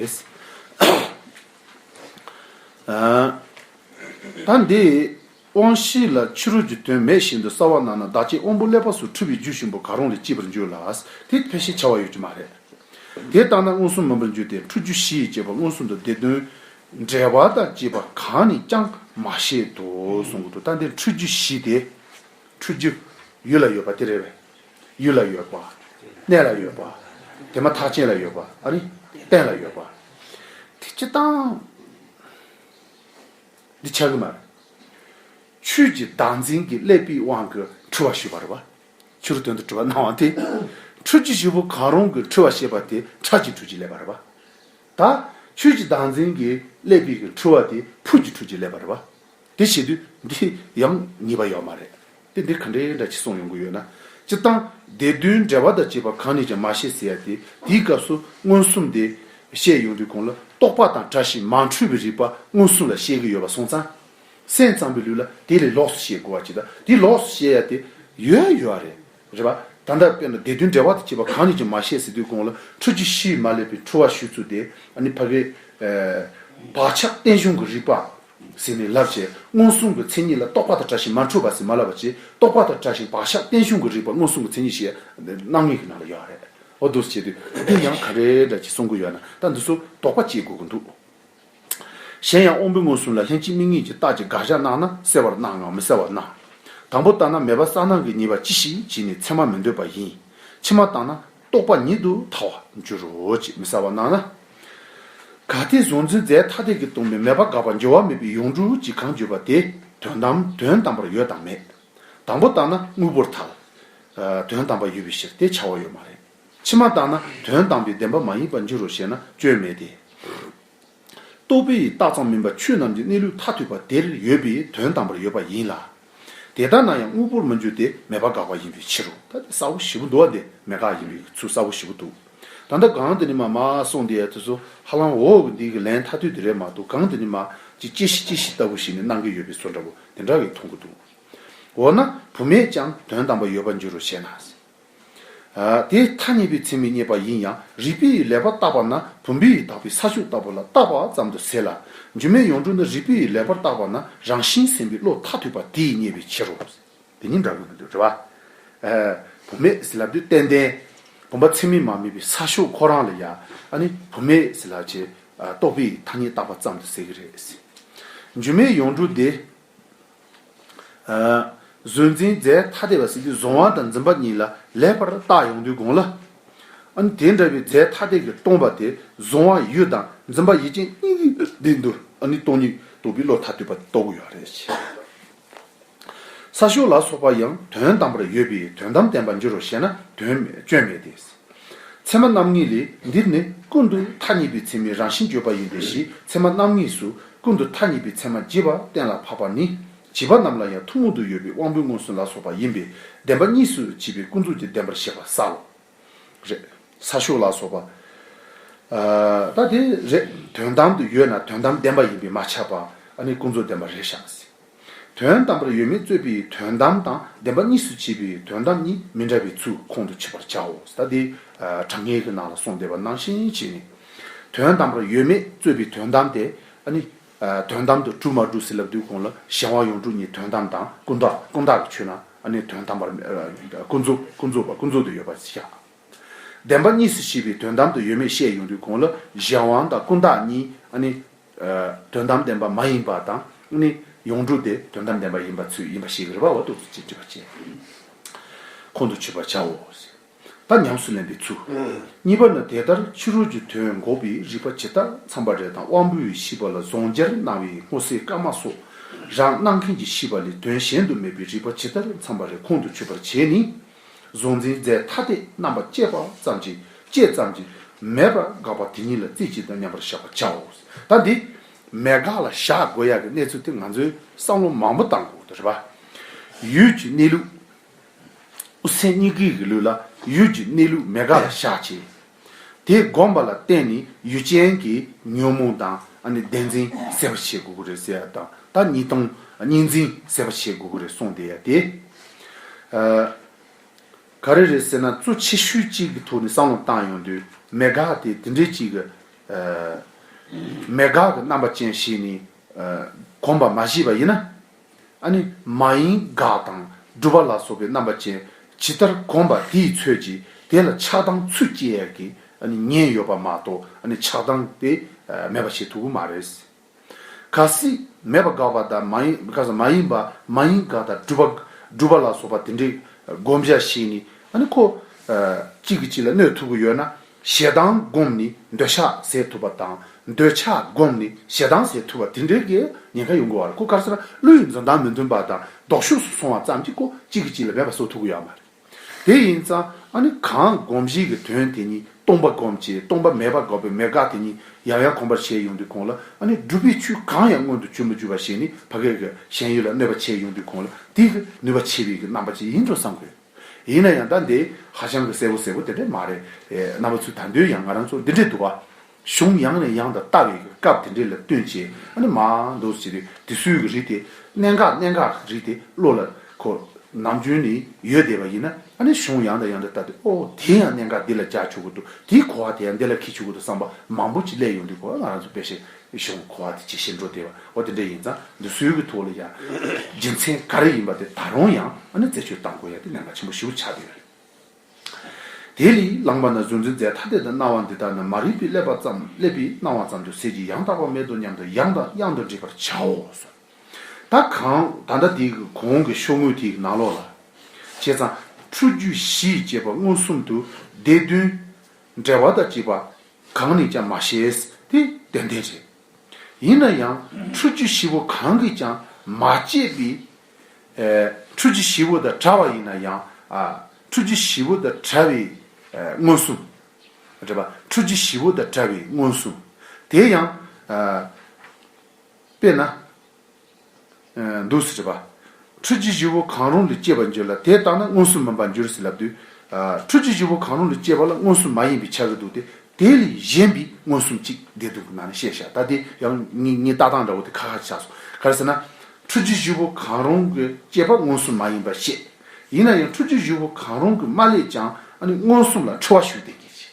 ད་འདི། དབང་བཞི་ལ་ཕྱི་རོལ་གྱི་དོན་མེད་བཞིན་དུ་སྲ་བར་སྣང་ན་བདག་བསྐྱེད་དབང་པོ་ཀླད་པ་སོ་དྲུག་གི་རྒྱུད་གཤིན་པོ་གང་རུང་ལས་སྐྱེས་པར་འགྱུར་ལ། དེ་ཕལ་ཤེས་བྱ་བ་ཡོད་ཀྱི་མ་རེད། དེ་ལྟ་ན་མངོན་སུམ་མིན་པར་འགྱུར་ཏེ་འཁྲུལ་རྒྱུ་བཞི་ཡིས་བསྐྱེད་པ་མངོན་སུམ་དུ་བདེ་དོན་འབྲེལ་བ་དང་བཅས་པ་གང་ནས་ཀྱང་མ་བཤད་དོ་གསུང་གི་འདུག་ད་འདི་འཁྲུལ་རྒྱུ་བཞི་དེ། འཁྲུལ་རྒྱུ། ཡུལ་ལ་ཡོད་པ་དེ་རེད་བས། ཡུལ་ལ་ཡོད་པ། གནས་ལ་ཡོད་པ། དེ་མ་ཐག་རྐྱེན་ལ་ཡོད་པ། ཨ་རི། རྟེན་ལ་ཡོད་པ། དེ་སྤྱི་དང། འདི་ཆགས་ཀྱི་མ་རེད། ཆོས་ཀྱི་བདག་འཛིན་གྱི་ཀླད་པའི་དབང་གིས་འཁྲུལ་བ་ཞེས་པ་རེད་བ། ཕྱི་རོལ་དོན་དུ་འཁྲུལ་བ་སྣང་བ་དེ། འཁྲུལ་གྱི་བྱེད་པོ་གང་རུང་གིས་འཁྲུལ་བ་ཞེས་པ་དེ་ཁྲག་གི་འཁྲུལ་གྱི་ཀླད་པ་རེད་བ། ད། ཆོས་ཀྱི་བདག་འཛིན་གྱི་ཀླད་པའི་འཁྲུལ་བ་དེ་ཕུགས་ཀྱི་འཁྲུལ་གྱི་ཀླད་པ་རེད་བ། དེ་བྱེད་དུས་འདི་ཡང་ཉེས་པ་ཡོད་མ་རེད། དེ་འདིར་ག་འདྲའི་འདྲ་ཆེ་གསུངས་ཡོང་གི་ཡོད་ན། སྤྱིར་བཏང་སྡེ་བདུན་འགྲེལ་བ་དང་བཅས་པ་གང་ནས་ཀྱང་མ་བཤད་ཟེར་ཡ་དེ་དེའི་སྐབས་སུ་མངོན་སུམ་སྟེ། བཤད་ཡོང་དུས་གོང་ལ་རྟོག་པ་དང་བཀྲ་ཤིས་མ་འཁྲུལ་བའི་རིགས་པ་མངོན་སུམ་ལ་བཤད་ཀྱི་ཡོད་པ་སོང་ཙང། སེམས་ཙམ་པའི་ལུས་ལ་དེ་ལས་ལོགས་སུ་བཤད་དགོས་བ་ཅི་དང་དེ་ལོགས་སུ་བཤད་ཡ་དེ་ཡོད་ཡོད་རེད། རེད་པ། ད་ལྟ་དཔེར་ན་སྡེ་བདུན་འགྲེལ་བ་དང་བཅས་པ་གང་ནས་ཀྱང་མ་བཤད་ཟེར་དུས་གོང་ལ་འཕྲུལ་གྱི་གཤིས་མ་བསླད་པའི་འཁྲུལ་བ་ཞུ་ཚུལ་དེ་ནི་ཕ་བའི། བག་ཆགས་བརྟན་བཞུགས་ཀྱི་རིགས་པ། ཟིན་ནས་སླར་བྱས་མངོན་སུམ་གྱི་མཚན་ཉིད་ལ་རྟོག་པ་དང་བྲལ་ཞིང་མ་འཁྲུལ་བ་ཟིན་མ་ལབ་པ་གཅིག་རྟོག་པ་དང་བྲལ་ཞིང་བག་ཆགས་བརྟན་བཞུགས་ཀྱི་རིགས་པ་མངོན་སུམ་གྱི་མཚན་ཉིད་ཞེས་སྣང་ངེས་ཀྱི་ནང་ལ་ཡོད་རེད། འོ་འདུག་བྱས་དུས་འདི་ཡང་ག་རེ་འདྲ་གཅིག་གསུང་གི་ཡོད་ན་ད་འདི་ཚོ་དོགས་པ་སྐྱེ་དགོས་ཀྱི་འདུག་གཞན་ཡང་དབང་པོའི་མངོན་སུམ་ལ་ལྷན་ཅིག་དམིགས་ངེས་ཀྱི་རྟགས་ཀྱི་དགག་བཞག་སྣང་ན་གསལ་བར་སྣང་ངམ་མི་གསལ་བར་སྣང། དང་པོ་ལྟར་ན་མེད་པ་གསང་སྣང་གི་ཉེས་པ་ཅི་ཞིག་བགྱིས་ནས་མཚན་མ་མི་འདོད་པ་ཡིན། ཕྱི་མ་བརྟགས་ན། རྟོགས་པ་ཉིད་དུ་ཐལ་བར་འགྱུར་རོ་ཅེས་མི་གསལ་བར་སྣང་ན། ག་དེས་གཟུང་འཛིན་རྫས་ཐ་དད་ཀྱིས་སྟོང་པའི་མེད་པར་དགག་པར་འགྱུར་བ་མེད་པའི་ཡུངས་འབྲུ་གཅིག་གང་བརྗོད་པ་དེ་དོན་དམ་དོན་དམ་པར་ཡོད་དམ་མེད། དང་པོ་བརྟགས་ན་དངོས་པོར་ཐལ། དོན་དམ་པར་ཡོད་པའི་ཕྱིར་དེ་བྱ་བ་ཡོད་མ་རེད། ཕྱི་མ་བརྟགས་ན་དོན་དམ་པའི་བདེན་པ་མ་ཡིན་པར་འགྱུར་རོ་ཞེ་ན་སྐྱོན་མེད་དེ། རྟོག་པའི་ཡི་དྭགས་ཙམ་མིན་པར་ཆོས་རྣམས་ཀྱི་གནས་ལུགས་མཐའ་ཐོས་པ་དེར་ཡོད་པའི་དོན་དམ་པར་ཡོད་པ་ཡིན་ལ། དེ་ལྟ་ན་ཡང་དངོས་པོར་མི་འགྱུར་ཏེ་མེད་པར་འགག་པ་ཡིན་པའི་ཕྱིར་རོ། ད་ལྟ་ས་བོན་བཞི་པོ་འདུ་བ་འདི་མེད་དགག་ཡིན་པའི་ཚུལ་གསལ་བོ་ཞིག་པོ་འདུག་ད་ལྟ་གང་དེ་ནི་མ་མ་གསུངས་དེའི་དུས་སུ་ཧ་ལམ་འོ་འདི་གི་ལན་མཐའ་ཐོས་དེ་རེད་མ་གཏོགས་གང་དེ་ནི་མ་ཅིག་སྐྱེ་ཤི་སྐྱེ་ཤི་ལྟ་བུ་ཞིག་ནི་སྣང་གི་ཡོད་པའི་སོ་འདྲ་བོ་དེ་འདྲ་གིས་མཐོང་གི་འདུག་འོ་ན་བུ་མེད་ཀྱང་དོན་དམ་པར་ཡོད་པར་འགྱུར་རོ་ཞེ་ན། དེའི་མཐའ་གཉིས་པའི་མཚན་མི་རྙེད་པ་ཡིན་ཡང་རིག་པའི་ཡུལ་ལེགས་པར་བརྟགས་པ་ན་བུམ་པའི་ཡུལ་དག་པའི་ས་ཕྱོགས་ལྟ་བུ་ལ་བརྟགས་པ་ཙམ་དུ་ཟད་ལ། སྒྱུ་མའི་ཡོངས་གྲུབ་ནི་རིག་པའི་ཡུལ་ལེགས་པར་བརྟགས་པ་ན་རང་བཞིན་སེམས་པའི་བློ་མཐའ་ཐུག་པ་དེས་རྙེད་པའི་ཕྱིར་རོ། དེ་གཉིས་འདྲ་གི་མི་འདུག་དྲི་བ། བུམ་མེད་ཟིལ་ལ་བདུད་ཏན་ཏན། བུམ་པ་མཚན་མི་མ་དམིགས་པའི་ས་ཕྱོགས་ཁོ་རང་ལ་ཡ། བུམ་མེད་ཟིལ་ལ་བཅས་རྟོགས་པའི་ཡུལ་མཐའ་གཉིས་བརྟགས་པ་ཙམ་དུ་ཟད་ཀྱི་རེད། སྒྱུ་མའི་ཡོངས་གྲུབ་དེ། བཟོད་འཛིན་རྫས་ཐ་དད་པ་སྲིད་རྩེའི་གཟུང་བ་དང་འཛིན་པ་གཉིས་ལ་ལེགས་པར་བརྟགས་ཡོང་དུས་དགོངས་ལ། དེ་འདྲ་བའི་རྫས་ཐ་དད་ཀྱིས་སྟོང་པ་དེ་གཟུང་བ་ཡུལ་དང་འཛིན་པ་ཡིད་ཅན་གཉིས་ཀྱི་བདེ་འདུ་ནི་སྟོང་ཉིད་དོ་གི་བློ་མཐའ་གཏུད་པ་ལྟ་བུ་ཡང་རེད། ས་ཤོག་ལ་སོགས་པ་ཡང་དོན་དམ་པར་ཡོད་པས་དོན་དམ་བསྟན་པ་འགྱུར་རོ་ཞེ་ན་དོན་སྤྱོད་མེད་དེ། ཚད་མ་རྣམ་ངེས་ལས་འདིར་ནི་ཀུན་ཏུ་མཐའ་གཉིས་པའི་མཚན་མའི་རང་བཞིན་བརྗོད་པ་ཡིན་པས་ཞེས་ཚད་མ་རྣམ་ངེས་སུ་ཀུན་ཏུ་མཐའ་གཉིས་པའི་མཚན་མ་བརྗེས་པ་གཏན་ལ་ཕབ་པ་ནི། བྱིས་པ་རྣམས་ལ་ཡང་ཐུང་ངུ་དུ་ཡོད་པའི་དབང་པོའི་མངོན་སུམ་ལ་སོགས་པ་ཡིན་པས་བདེན་པ་གཉིས་སུ་བྱས་པའི་ཀུན་རྫོབ་ཀྱི་བདེན་པར་བཤད་པ་ས་ལ་རེ། ས་ཤོག་ལ་སོགས་པ། ད་དེ་རེ་དོན་དམ་དུ་ཡོད་ན་དོན་དམ་བདེན་པ་ཡིན་པས་མ་ཆགས་པ་ནི་ཀུན་རྫོབ་བདེན་པར་རེ་བཞག་ཟིན། དོན་དམ་པར་ཡོད་མེད་རྩོད་པའི་དོན་དམ་དང་བདེན་པ་གཉིས་སུ་བྱེད་པའི་དོན་དམ་གཉིས་མི་འདྲ་བའི་ཚུལ་ཁོང་དུ་ཆུད་པར་བྱའོ། ད་དེ་དྲང་ངེས་ཀྱི་ནང་ལ་གསུངས་བསྡད་པ་ནང་བཞིན་བྱས་ནས། དོན་དམ་པར་ཡོད་མེད་རྩོད་པའི་དོན་དམ་དེ་ནི། དོན་དམ་དུ་གྲུབ་མ་གྲུབ་སྲིད་ལ་བསྡུས་གོང་ལ་གཞན་དབང་ཡོངས་གྲུབ་གཉིས་དོན་དམ་དང་ཀུན་བཏགས་ལ་ཆོད་ན་ནི་དོན་དམ་པར་ཀུན་རྫོབ་ཏུ་ཡོད་པར་བཞག། བདེན་པ་གཉིས་སུ་བྱེད་པའི་དོན་དམ་དུ་ཡོད་མེད་བཤད་ཡོང་དུས་གོང་ལ་གཞན་དབང་དང་ཀུན་བཏགས་གཉིས་དོན་དམ་བདེན་པ་མ་ཡིན་པ་དང་ནི་ཡོངས་གྲུབ་དེ་དོན་དམ་བདེན་པ་ཡིན་པ་ཚུལ་ཡིན་པ་ཞིག་རེ་བ་བ་ཏུ་ཅི་འདྲི་བ་བཅས་ཁོང་དུ་ཆུད་པར་བྱའོ། ད་ཉམས་སུ་ལེན་པའི་ཚུལ། གཉིས་པ་ནི་དེ་ལྟར་ཕྱི་རོལ་གྱི་དོན་འགོག་པའི་རིགས་པ་ཇི་ལྟར་འཚམ་པ་རེ་དང་དབང་པོའི་ཤེས་པ་ལ་ཟོང་སྦྱར་སྣང་བའི་སྔོ་སེར་དཀར་དམར་སོགས་རང་སྣང་མཁན་གྱི་ཤེས་པ་ལས་དོན་གཞན་དུ་མེད་པའི་རིགས་པ་ཇི་ལྟར་འཚམ་པ་རེ་ཁོང་དུ་ཆུད་པར་བྱས་ནས། གཟུང་འཛིན་རྫས་ཐ་དད་རྣམ་པར་དཔྱད་པ་ཙམ་གྱིས་དཔྱད་ཙམ་གྱིས་མེད་པར་དགག་པ་དེ་ཉིད་ལ་རྩིས་གཅིག་དང་མཉམ་པར་བཞག་པར་བྱའོ། ད་འདི་མེད་དགག་ལ་བཞག་དགོས་ཡ་གི་གནས་ཚུལ་དེ་ང་ཚོའི་བསམ་བློ་མང་པོ་དང་གོ། རེད་པ། ཡུལ་གྱི་གནས་ལུགས། སེམས་གཉིས་ཀའི་གི་ལུས་ལ་ཡུལ་གྱི་གནས་ལུགས་མེད་དགག་ལ་བཞག་བྱས། དེ་བསྒོམས་པ་ལ་བརྟེན་ནས་ཡུལ་ཅན་གྱི་ཉོན་མོངས་དང་བདེན་འཛིན་སེལ་བར་བྱེད་དགོས་ཀྱི་རེད་ཟེར་ཡ་དང་ད་གཉིས་སྟོང་གཉིས་འཛིན་སེལ་བར་བྱེད་དགོས་ཀྱི་རེད་གསུངས་བསྡད་ཡ་དེ། ག་རེ་རེད་ཟེར་ན་གཙོ་ཆེ་ཤོས་གཅིག་གི་ཐོག་ནས་བསམ་བློ་བཏང་ཡོང་དུས་མེད་དགག་དེ་དེ་འདྲའི་གཅིག་གི་མེད་དགག་གི་རྣམ་པ་ཅན་ཞིག་ནས་གོམས་པ་མ་བྱས་པ་ཡིན་ན། ཨ་ནི་མ་ཡིན་དགག་དང་སྒྲུབ་པ་ལ་སོགས་པའི་རྣམ་པ་ཅན་ཇི་ལྟར་གོམས་པ་དེའི་ཚོད་ཀྱིས་དེ་ལ་ཆགས་སྡང་ཚུལ་སྐྱེ་ཡ་གི་ཨ་ནི་ཉེན་ཡོད་པ་མ་གཏོགས་ཨ་ནི་ཆགས་སྡང་དེ་མེད་པ་བྱེད་ཐུབ་པོ་མ་རེད། ག་སྲིད་མེད་པ་དགག་པ་དང་མ་ཡིན་ག་ས་མ་ཡིན་པ་མ་ཡིན་དགག་དང་སྒྲུབ་པ་སྒྲུབ་པ་ལ་སོགས་པ་དེ་འདྲའི་བསྒོམ་བྱ་ཞིག་ནི་ཨ་ནི་ཁོ་གཅིག་གིས་གཅིག་ལ་གནོད་ཐུབ་ཀི་ཡོད་ན་ཞེ་སྡང་བསྒོམས་ནས་འདོད་ཆགས་ཟད་ཐུབ་པ་དང་འདོད་ཆགས་བསྒོམས་ནས་ཞེ་སྡང་ཟད་ཐུབ་པ་དེ་འདྲའི་གི་ཉེན་ཁ་ཡོང་གི་བ་རེད་སྐུ་དཀར་སར་ཀླུ་ཡི་འཛུམ་མདངས་མི་མཐུན་པ་དང་ལྡོག་ཤུགས་སུ་སོང་བ་ཙམ་གྱིས་ཀོ་གཅིག་གི་གཅིག་ལ་འབད་པ་བཟོ་ཐུབ་གི་ཡོད་མ་རེད། དེ་ཡིན་ཙང་ཨ་ནི་གང་བསྒོམ་གཞིག་གི་དོན་དེ་ཉིད་སྟོང་པ་བསྒོམ་བྱའི་སྟོང་པ་མེད་པ་འགག་པའི་མེད་དགག་དེ་ཉིད་ཡང་ཡང་གོམས་པར་བྱས་ཡོང་དུས་གོང་ལ་ཨ་ནི་སྒྲུབ་པའི་ཚུལ་གང་ཡང་མངོན་དུ་གྱུར་མ་གྱུར་པ་ཞིག་ནི་ཕ་སྐད་ཀྱི་ཞེན་ཡུལ་ལ་གནོད་པ་བྱས་ཡོང་དུས་གོང་ལ་དེའི་གི་ནུས་པ་ཆེ་བའི་གི་རྣམ་པ་ཅིག་ཡིན་འགྲོ་བསམ་གི་ཡོད། ཡིན་ན་ཡང་ད་འདི་ཧ་ཅང་གི་གསལ་བོ་གསལ་བོ་དེ་འདྲ་མ་རེད། རྣམ་པ་ཚུལ་ད་འདོད་ཡང་ང་རང་ཚོ་འདི་འདྲའི་འདུག་བ། གཞུང་ཡང་ནས་ཡང་དང་ལྟ་བའི་གི་སྐབས་དེ་འདྲའི་ལ་སྟོན་བྱེད་ཨ་ནི་མ་འདུག་ཟེར་བའི་དེ་སུའི་གི་རིགས་དེ་གནད་འགག་གནད་འགག་གི་རིགས་དེ་བློ་ལ་ཁོ་ནམ་རྒྱུན་ནས་ཡོད་བསྡད་པ་ཡིན་ན་ཨ་ནི་གཞུང་ཡང་དང་ཡང་དང་ལྟ་དེ་ཨོ་དེ་ཡང་གནད་འགག་འདི་ལ་རྒྱག་ཆོག་གི་འདུག་དེའི་གོ་བ་དེ་ཡང་འདི་ལ་འཁེལ་ཆོག་གི་འདུག་བསམ་པ་མང་པོ་ཅིག་སླེབས་ཡོང་དུས་གོ་བ་ང་རང་ཚོ་དཔེ་བཞིན་གཞུང་གི་གོ་བ་དེ་ཇི་བཞིན་འགྲོ་བདེ་བ་དེ་འདྲ་ཡིན་ཙང་འདི་སྲོལ་གྱི་ཐོག་ལ་ཡང་རྒྱུ་མཚན་ག་རེ་ཡིན་པ་དེ་ད་རུང་ཡང་རྩད་གཅོད་གཏང་དགོས་ཡ་དེ་ནན་པ་ཆེན་པོ་ཞུ་བྱ་དེ་རེད། དེ་ལས་ལངས་པ་ན་གཟུང་འཛིན་རྫས་ཐ་དད་དུ་སྣང་བ་འདི་དག་ནི་མ་རིག་པའི་བསླད་པ་ཙམ་བསླད་པའི་སྣང་བ་ཙམ་དུ་ཟད་ཀྱི་ཡང་དག་པ་མེད་དོ་སྙམ་དུ་ཡང་དང་ཡང་དུ་འདྲིས་པར་བྱའོ་གསུངས། ད་གང་ད་ལྟ་དེའི་གོང་གི་ཤོག་ངོས་དེའི་ནང་ལོགས་ལ། བྱས་ཙང་ཁྲུ་རྒྱུད་བཞི་ཅེས་པ་མངོན་སུམ་དུ་བདེ་དོན། འབྲེལ་བ་དང་བཅས་པ་གང་ནས་ཀྱང་མ་བཤད་དེ་དོན་ལྡན་རེད། ཡིན་ན་ཡང་ཁྲུས་ཆུ་བཞི་བོ་གང་གིས་ཀྱང་མ་བསྐྱེད་པའི་ཁྲུས་ཆུ་བཞི་བོ་དང་བྲལ་བ་ཡིན་ན་ཡང་ཁྲུས་ཆུ་བཞི་བོ་དང་བྲལ་བའི་མངོན་སུམ། འབྲེལ་པ་ཁྲུས་ཆུ་བཞི་བོ་དང་བྲལ་བའི་མངོན་སུམ་དེ་ཡང་དཔེར་ན། འདུག་ཟེར་བ། ཁྲུས་ཀྱི་བཞི་བོ་གང་རུང་ལས་སྐྱེས་པར་འགྱུར་ལ་དེ་བརྟགས་ན་དངོས་སུ་མིན་པར་འགྱུར་ཟེར་ལབ་དུས། ཁྲུས་ཀྱི་བཞི་བོ་གང་རུང་ལས་སྐྱེས་པ་ལ་དངོས་སུ་མ་ཡིན་པའི་ཆ་གི་འདུག་སྟེ་དེ་ལས་གཞན་པའི་མངོན་སུམ་གཅིག་བདེ་སྡུག་གི་ནང་ནས་བཤད་བྱ་ད་དེ་ཡང་ངས་བརྟགས་སྟངས་འདྲ་བོ་དེ་ཁ་ཁ་ཆགས་སོང་ག་རེ་ཟེར་ན། ཁྲུས་ཀྱི་བཞི་བོ་གང་རུང་གི་སྐྱེས་པ་དངོས་སུམ་མ་ཡིན་པར་བཤད། ཡིན་ན་ཡང་ཁྲུས་ཀྱི་བཞི་བོ་གང་རུང་གི་མ་ལས་ཀྱང་ཨ་ནི་མངོན་སུམ་ལ་འཁྲི་བ་ཞུ་བདེ་སྐྱེད་བྱེད།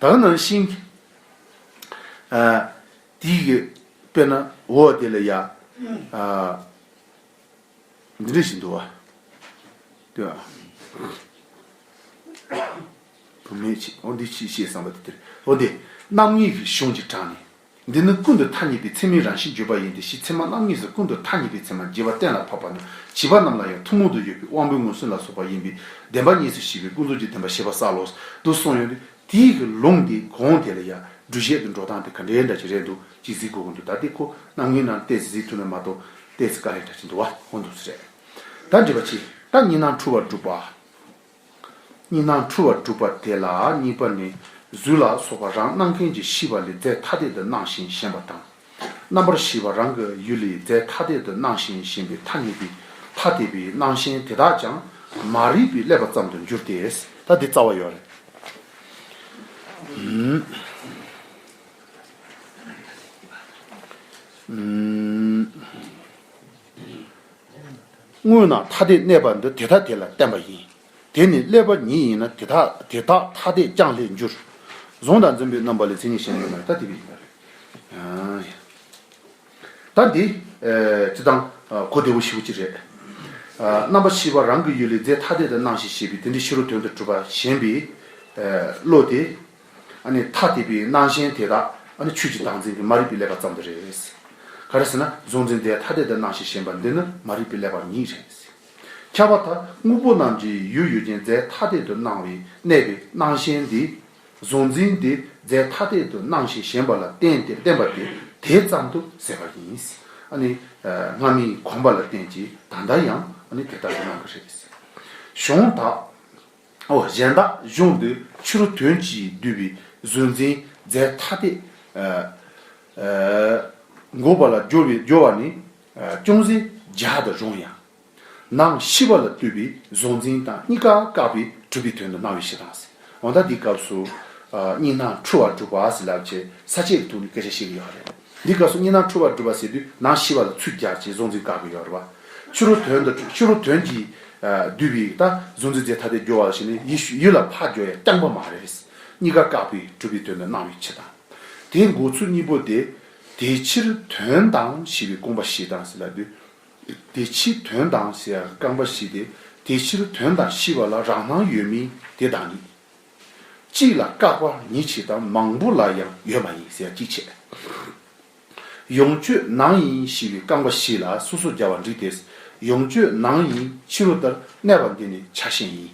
དག་སྣང་བཞིན། དེའི་གེ་པས་ན་འོ་དེ་ལ་ཡང། འདི་འདྲ་ཞིག་འདུག་བ། དེ། བུ་མེད་ཅིག་འོ་འདི་ཅི་ཞེས་བསམ་པ་དེ་དེར་འོ་འདི། རྣམ་གཡེང་གི་གཞུང་གཅིག་དྲངས་ནས། འདི་ནི་ཀུན་ཏུ་ཐ་སྙད་པའི་ཚད་མའི་རང་བཞིན་བརྗོད་པ་ཡིན་ཏེ་གཞི་ཚད་མ་རྣམ་གཉིས་སུ་ཀུན་ཏུ་ཐ་སྙད་པའི་ཚད་མ་བརྗེ་བ་གཏན་ལ་ཕབ་པ་ན་བྱིས་པ་རྣམས་ལ་ཡང་ཐུན་མོང་དུ་ཡོད་པའི་དབང་པོའི་མངོན་སུམ་ལ་སོགས་པ་ཡིན་པས་བདེན་པ་གཉིས་སུ་ཤེས་པའི་ཀུན་རྫོབ་ཀྱི་བདེན་པ་ཤེས་པ་གསལ་ལོ། དུ་གསུངས་ཡོད། དེའི་ལུང་དེ་གོང་དེ་ལ་ཡང་སྒྲུབ་བྱེད་དུ་འགྲོ་སྟངས་དེ་ག་འདྲའི་འདྲ་གྱི་རེད་འདུག་ཅེས་གཟིགས་དགོས་ཀྱི་འདུག་ད་ལྟའི་ཁོ་ན་ངའི་ནང་བལྟས་ཚེ་གཟིགས་ཐུབ་ནི་མ་གཏོགས་བལྟས་ཚེ་དཀའ་ལས་འདྲ་གྱི་འདུག་བ་ཧོན་འདུག་ཚུལ་རེད། ད་འདྲི་བ་ཅི། ད་གཉིས་སྣང་འཁྲུལ་བ་བསྒྲུབ་པ། གཉིས་སྣང་འཁྲུལ་བ་བསྒྲུབ་པ་དེ་ལ་གཉིས་པ་ནི་གཟུགས་ལ་སོགས་པ་རང་སྣང་མཁན་གྱི་ཤེས་པ་ལས་རྫས་ཐ་དད་དུ་སྣང་ཞིང་ཞེན་པ་དང། རྣམ་པར་ཤེས་པ་རང་གི་ཡུལ་ལས་རྫས་ཐ་དད་དུ་སྣང་ཞིང་ཞེན་པའི་ཐ་སྙད་པས་ཐ་དད་པའི་སྣང་ཞེན་དེ་དག་ཀྱང་མ་རིག་པས་བསླད་པ་ཙམ་དུ་འགྱུར་ཏེ། ད་འདི་རྩ་བ་ཡོད་རེད། དངོས་ན་ཐ་དད་གནས་པ་འདི་དེ་ཐ་དད་ལ་བརྟེན་པ་ཡིན། དེ་ནི་ཀླད་པ་ཉིད་ཡིན་ན་དེ་དག་དེ་དག་ཐ་དད་ཀྱང་ལྷས་འགྱུར། གཟུང་དང་འཛིན་པའི་རྣམ་པ་ལས་མཚན་ཉིད་གཞན་ཡོད་མེད་ཐ་དད་པའི་ཡིན་པ་རེད། ད་འདི་ཅི་དང་གོ་བདེ་བོ་ཞིག་པོ་ཅི་རེད། རྣམ་པ་བཞི་པ་རང་གི་ཡུལ་ལས་རྫས་ཐ་དད་དུ་སྣང་ཞིང་ཤེས་པས་དེ་འདི་ཕྱི་རོལ་དོན་དུ་གྲུབ་པ་ཞེན་པའི་བློ་དེ། ཐ་དད་པའི་སྣང་ཞེན་དེ་དག་ཆོས་ཀྱི་བདག་འཛིན་གྱི་མ་རིག་པས་བསླད་པ་ཙམ་དུ་རེད། ག་རེ་ཟེར་ན་གཟུང་འཛིན་དེ་ཐ་དད་དུ་སྣང་ཞིང་ཞེན་པ་འདི་ནི་མ་རིག་པས་བསླད་པ་ཉིད་རེད། ཁྱབ་བ་དག་དངོས་པོ་རྣམས་ཀྱི་ཡུལ་ཡོད་ཅིང་རྫས་ཐ་དད་དུ་སྣང་བས་གནས་པའི་སྣང་ཞེན་འདི། གཟུང་འཛིན་དེ་རྫས་ཐ་དད་དུ་སྣང་ཞིང་ཞེན་པ་ལ་བརྟེན་ཏེ་བརྟེན་པ་དེ་དེ་ཙམ་དུ་ཟད་པ་ཡིན། སྔ་མའི་གོམས་པ་ལ་བརྟེན་ཅིང་ད་ལྟ་ཡང་དེ་ལྟར་དུ་སྣང་གི་རེད། གཞུང་དག། ཨོ་གཞན་དག་གཞུང་འདི་ཕྱི་རུ་དོན་གྱིས་བསྡུས་པའི་གཟུང་འཛིན་རྫས་ཐ་དད་འགོག་པ་ལ་སྦྱོར་བ་ནི་ཅུང་ཟད་རྒྱགས་དུ་རུང་ཡང། ནང་ཤི་བ་ལ་བཏུས་པའི་གཟུང་འཛིན་དང་གཉིས་ཀ་བཀག་པས་གྲུབ་པའི་དོན་དུ་སྣང་བའི་ཕྱིར་དང། འོན་ཏང་འདིའི་སྐབས་སུ་གཉིས་སྣང་འཁྲུལ་བར་གྲུབ་པ་ལབ་ཅེས་ས་བཅད་དུ་ནི་སྐད་ཆ་བཤད་ཀྱི་ཡོད་རེད། འདི་སྐབས་སུ་གཉིས་སྣང་འཁྲུལ་བ་སྒྲུབ་པ་ཟེར་དུས་ནང་ཤི་བ་ལ་ཚུད་རྒྱག་ཅེས་གཟུང་འཛིན་བཀག་གི་ཡོད་རེད་བ། ཕྱི་རུ་དོན་དང་ཕྱི་རུ་དོན་གྱིས་བསྡུས་པའི་ད་གཟུང་འཛིན་རྫས་ཐ་དད་སྦྱོར་བ་ལ་ཞེན་ནས་ཡིད་ཡུལ་ལ་ཕ་སྦྱོར་ཡ་རྐྱང་པ་མ་རེད། གཉིས་ཀ་བཀག་པས་གྲུབ་པའི་དོན་དུ་སྣང་བའི་ཕྱིར་དང། དེའི་འགོག་ཚུལ་གཉིས་པོ་དེ། དེའི་ཕྱིར་དོན་དང་ཞེས་པའི་རྐང་པ་བཞི་དང་ཟེར་ལ་དུས། དེའི་ཕྱིར་དོན་དང་ཟེར་ཡ་རྐང་པ་བཞི་སྟེ་དེའི་ཕྱིར་དོན་དང་ཤི་བ་ལ་རང་སྣང་ཡོད་མིན་དེ་དང་ནི། གཅིག་ལ་བཀག་པ་ཉིད་ཆེ་དང་མང་པོ་ལ་ཡང་ཡོད་མ་ཡིན་ཟེར་གྱིས་བྱེད། ཡོངས་སྤྱོད་ནང་ཡིན་ཞི་བའི་རྐང་པ་བཞི་ལ་སོ་སོར་སྦྱར་བ་འགྲིག་དེ། ཡོངས་སྤྱོད་ནང་ཡིན་ཕྱི་རོལ་ལྟར་གནས་པ་འདི་ནི་ཆ་གཞན་ཡིན།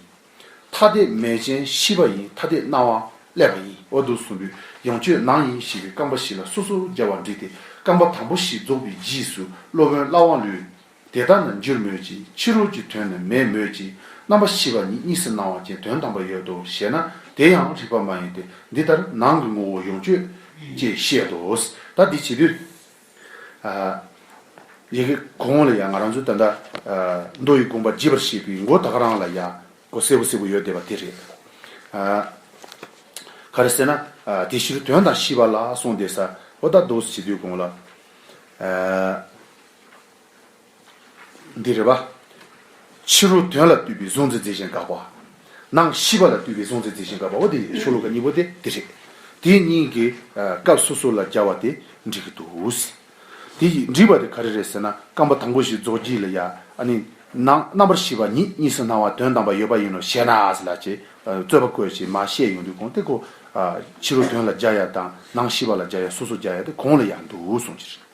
ཐ་དད་མེད་ཅན་ཤི་བ་ཡིན་ཐ་དད་སྣང་བ་བསླད་པ་ཡིན་འོ་དུ་གསུམ་པོས་ཡོངས་སྤྱོད་ནང་ཡིན་ཞི་བའི་རྐང་པ་བཞི་ལ་སོ་སོར་སྦྱར་བ་འགྲིག་དེ་རྐང་པ་དང་པོ་བཞི་རྫོགས་པའི་རྗེས་སུ་སློབ་དཔོན་བླ་དབང་ལུས། དེ་ལྟ་ན་འགྱུར་མོད་ཀྱི་ཕྱི་རོལ་གྱི་དོན་ནི་མེད་མོད་ཀྱི་རྣམ་པ་བཞི་པ་ཉིད་གཉིས་སུ་སྣང་བ་ཅན་དོན་དམ་པ་ཡོད་དོ་ཞེ་ན་དེ་ཡང་རིགས་པ་མ་ཡིན་ཏེ་འདི་ལྟར་ནང་གི་ངོ་བོ་ཡོངས་གཅོད། ཅེས་བཤད་དོ། ད་འདི་བྱེད་དུས། ཡི་གེ་གོང་ལ་ཡང་ང་རང་ཚོའི་ད་ལྟ། མདོ་ཡི་དགོངས་པ་བརྗིད་པར་བཤད་པའི་མགོ་དག་རང་ལ་ཡང་གོ་གསལ་བོ་གསལ་བོ་ཡོད་བསྡད་པ་དེ་རེད། ག་རེ་ཟེར་ན། དེ་ཕྱིར་དོན་དང་བཞི་པ་ལ་སོང་བསྡད་ས་འོ་ད་མདོ་བྱེད་དུས་གོང་ལ། འདི་རེ་བ། ཕྱི་རོལ་དོན་ལ་བཏུས་པའི་གཟུང་འཛིན་རྫས་གཞན་དགག་པ། ནང་ཤེས་པ་ལ་བཏུས་པའི་གཟུང་འཛིན་རྫས་གཞན་དགག་པའོ་དེ་ཡི་ཆོས་ལུགས་གཉིས་པོ་དེ་འདི་རེད། དེ་གཉིས་ཀྱི་སྐབས་སོ་སོ་ལ་སྦྱར་བ་དེ་འགྲིག་གི་འདུག། དེ་འགྲིག་པ་དེ་ག་རེ་རེད་ཟེར་ན་རྐང་པ་དང་པོ་ཞིག་རྫོགས་རྗེས་ལ་ཡ་ཨ་ནི། ནང་རྣམ་པར་ཤེས་པ་ཉིད་གཉིས་སུ་སྣང་བ་དོན་དམ་པ་ཡོད་པ་ཡིན་ནོ་ཞེ་ན་ཨཱས་ལ་ཅེས་རྩོད་པ་བཀོད་ཅེས་མ་བཤད་ཡོང་དུས་གོང་དེ་ཀོ། ཕྱི་རོལ་དོན་ལ་སྦྱར་ཡ་དང་ནང་ཤེས་པ་ལ་སྦྱར་ཡ་སོ་སོར་སྦྱར་ཡ་དེ་གོང་ལ་ཡ་འདུག་གསུངས་ཕྱིར།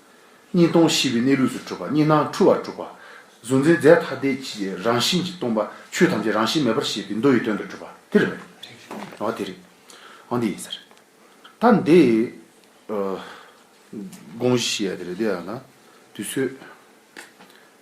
གཉིས་སྟོང་བཞི་པའི་གནས་ལུགས་སུ་གྲུབ་པ་གཉིས་སྣང་འཁྲུལ་བར་གྲུབ་པ། གཟུང་འཛིན་རྫས་ཐ་དད་ཀྱི་རང་བཞིན་གྱིས་སྟོང་པ་ཆོས་ཐམས་ཅད་རང་བཞིན་མེད་པར་ཤེས་པའི་མདོ་ཡི་དོན་དུ་གྲུབ་པ་དེ་རེད། འོ་དེ་རེད། འོ་འདི་ཡིན་ཟེར། ད་འདི། དགོངས་གཞི་ཞེས་ཡ་དེ་རེད་འདི་ཡང་ན་དུས་ཚོད།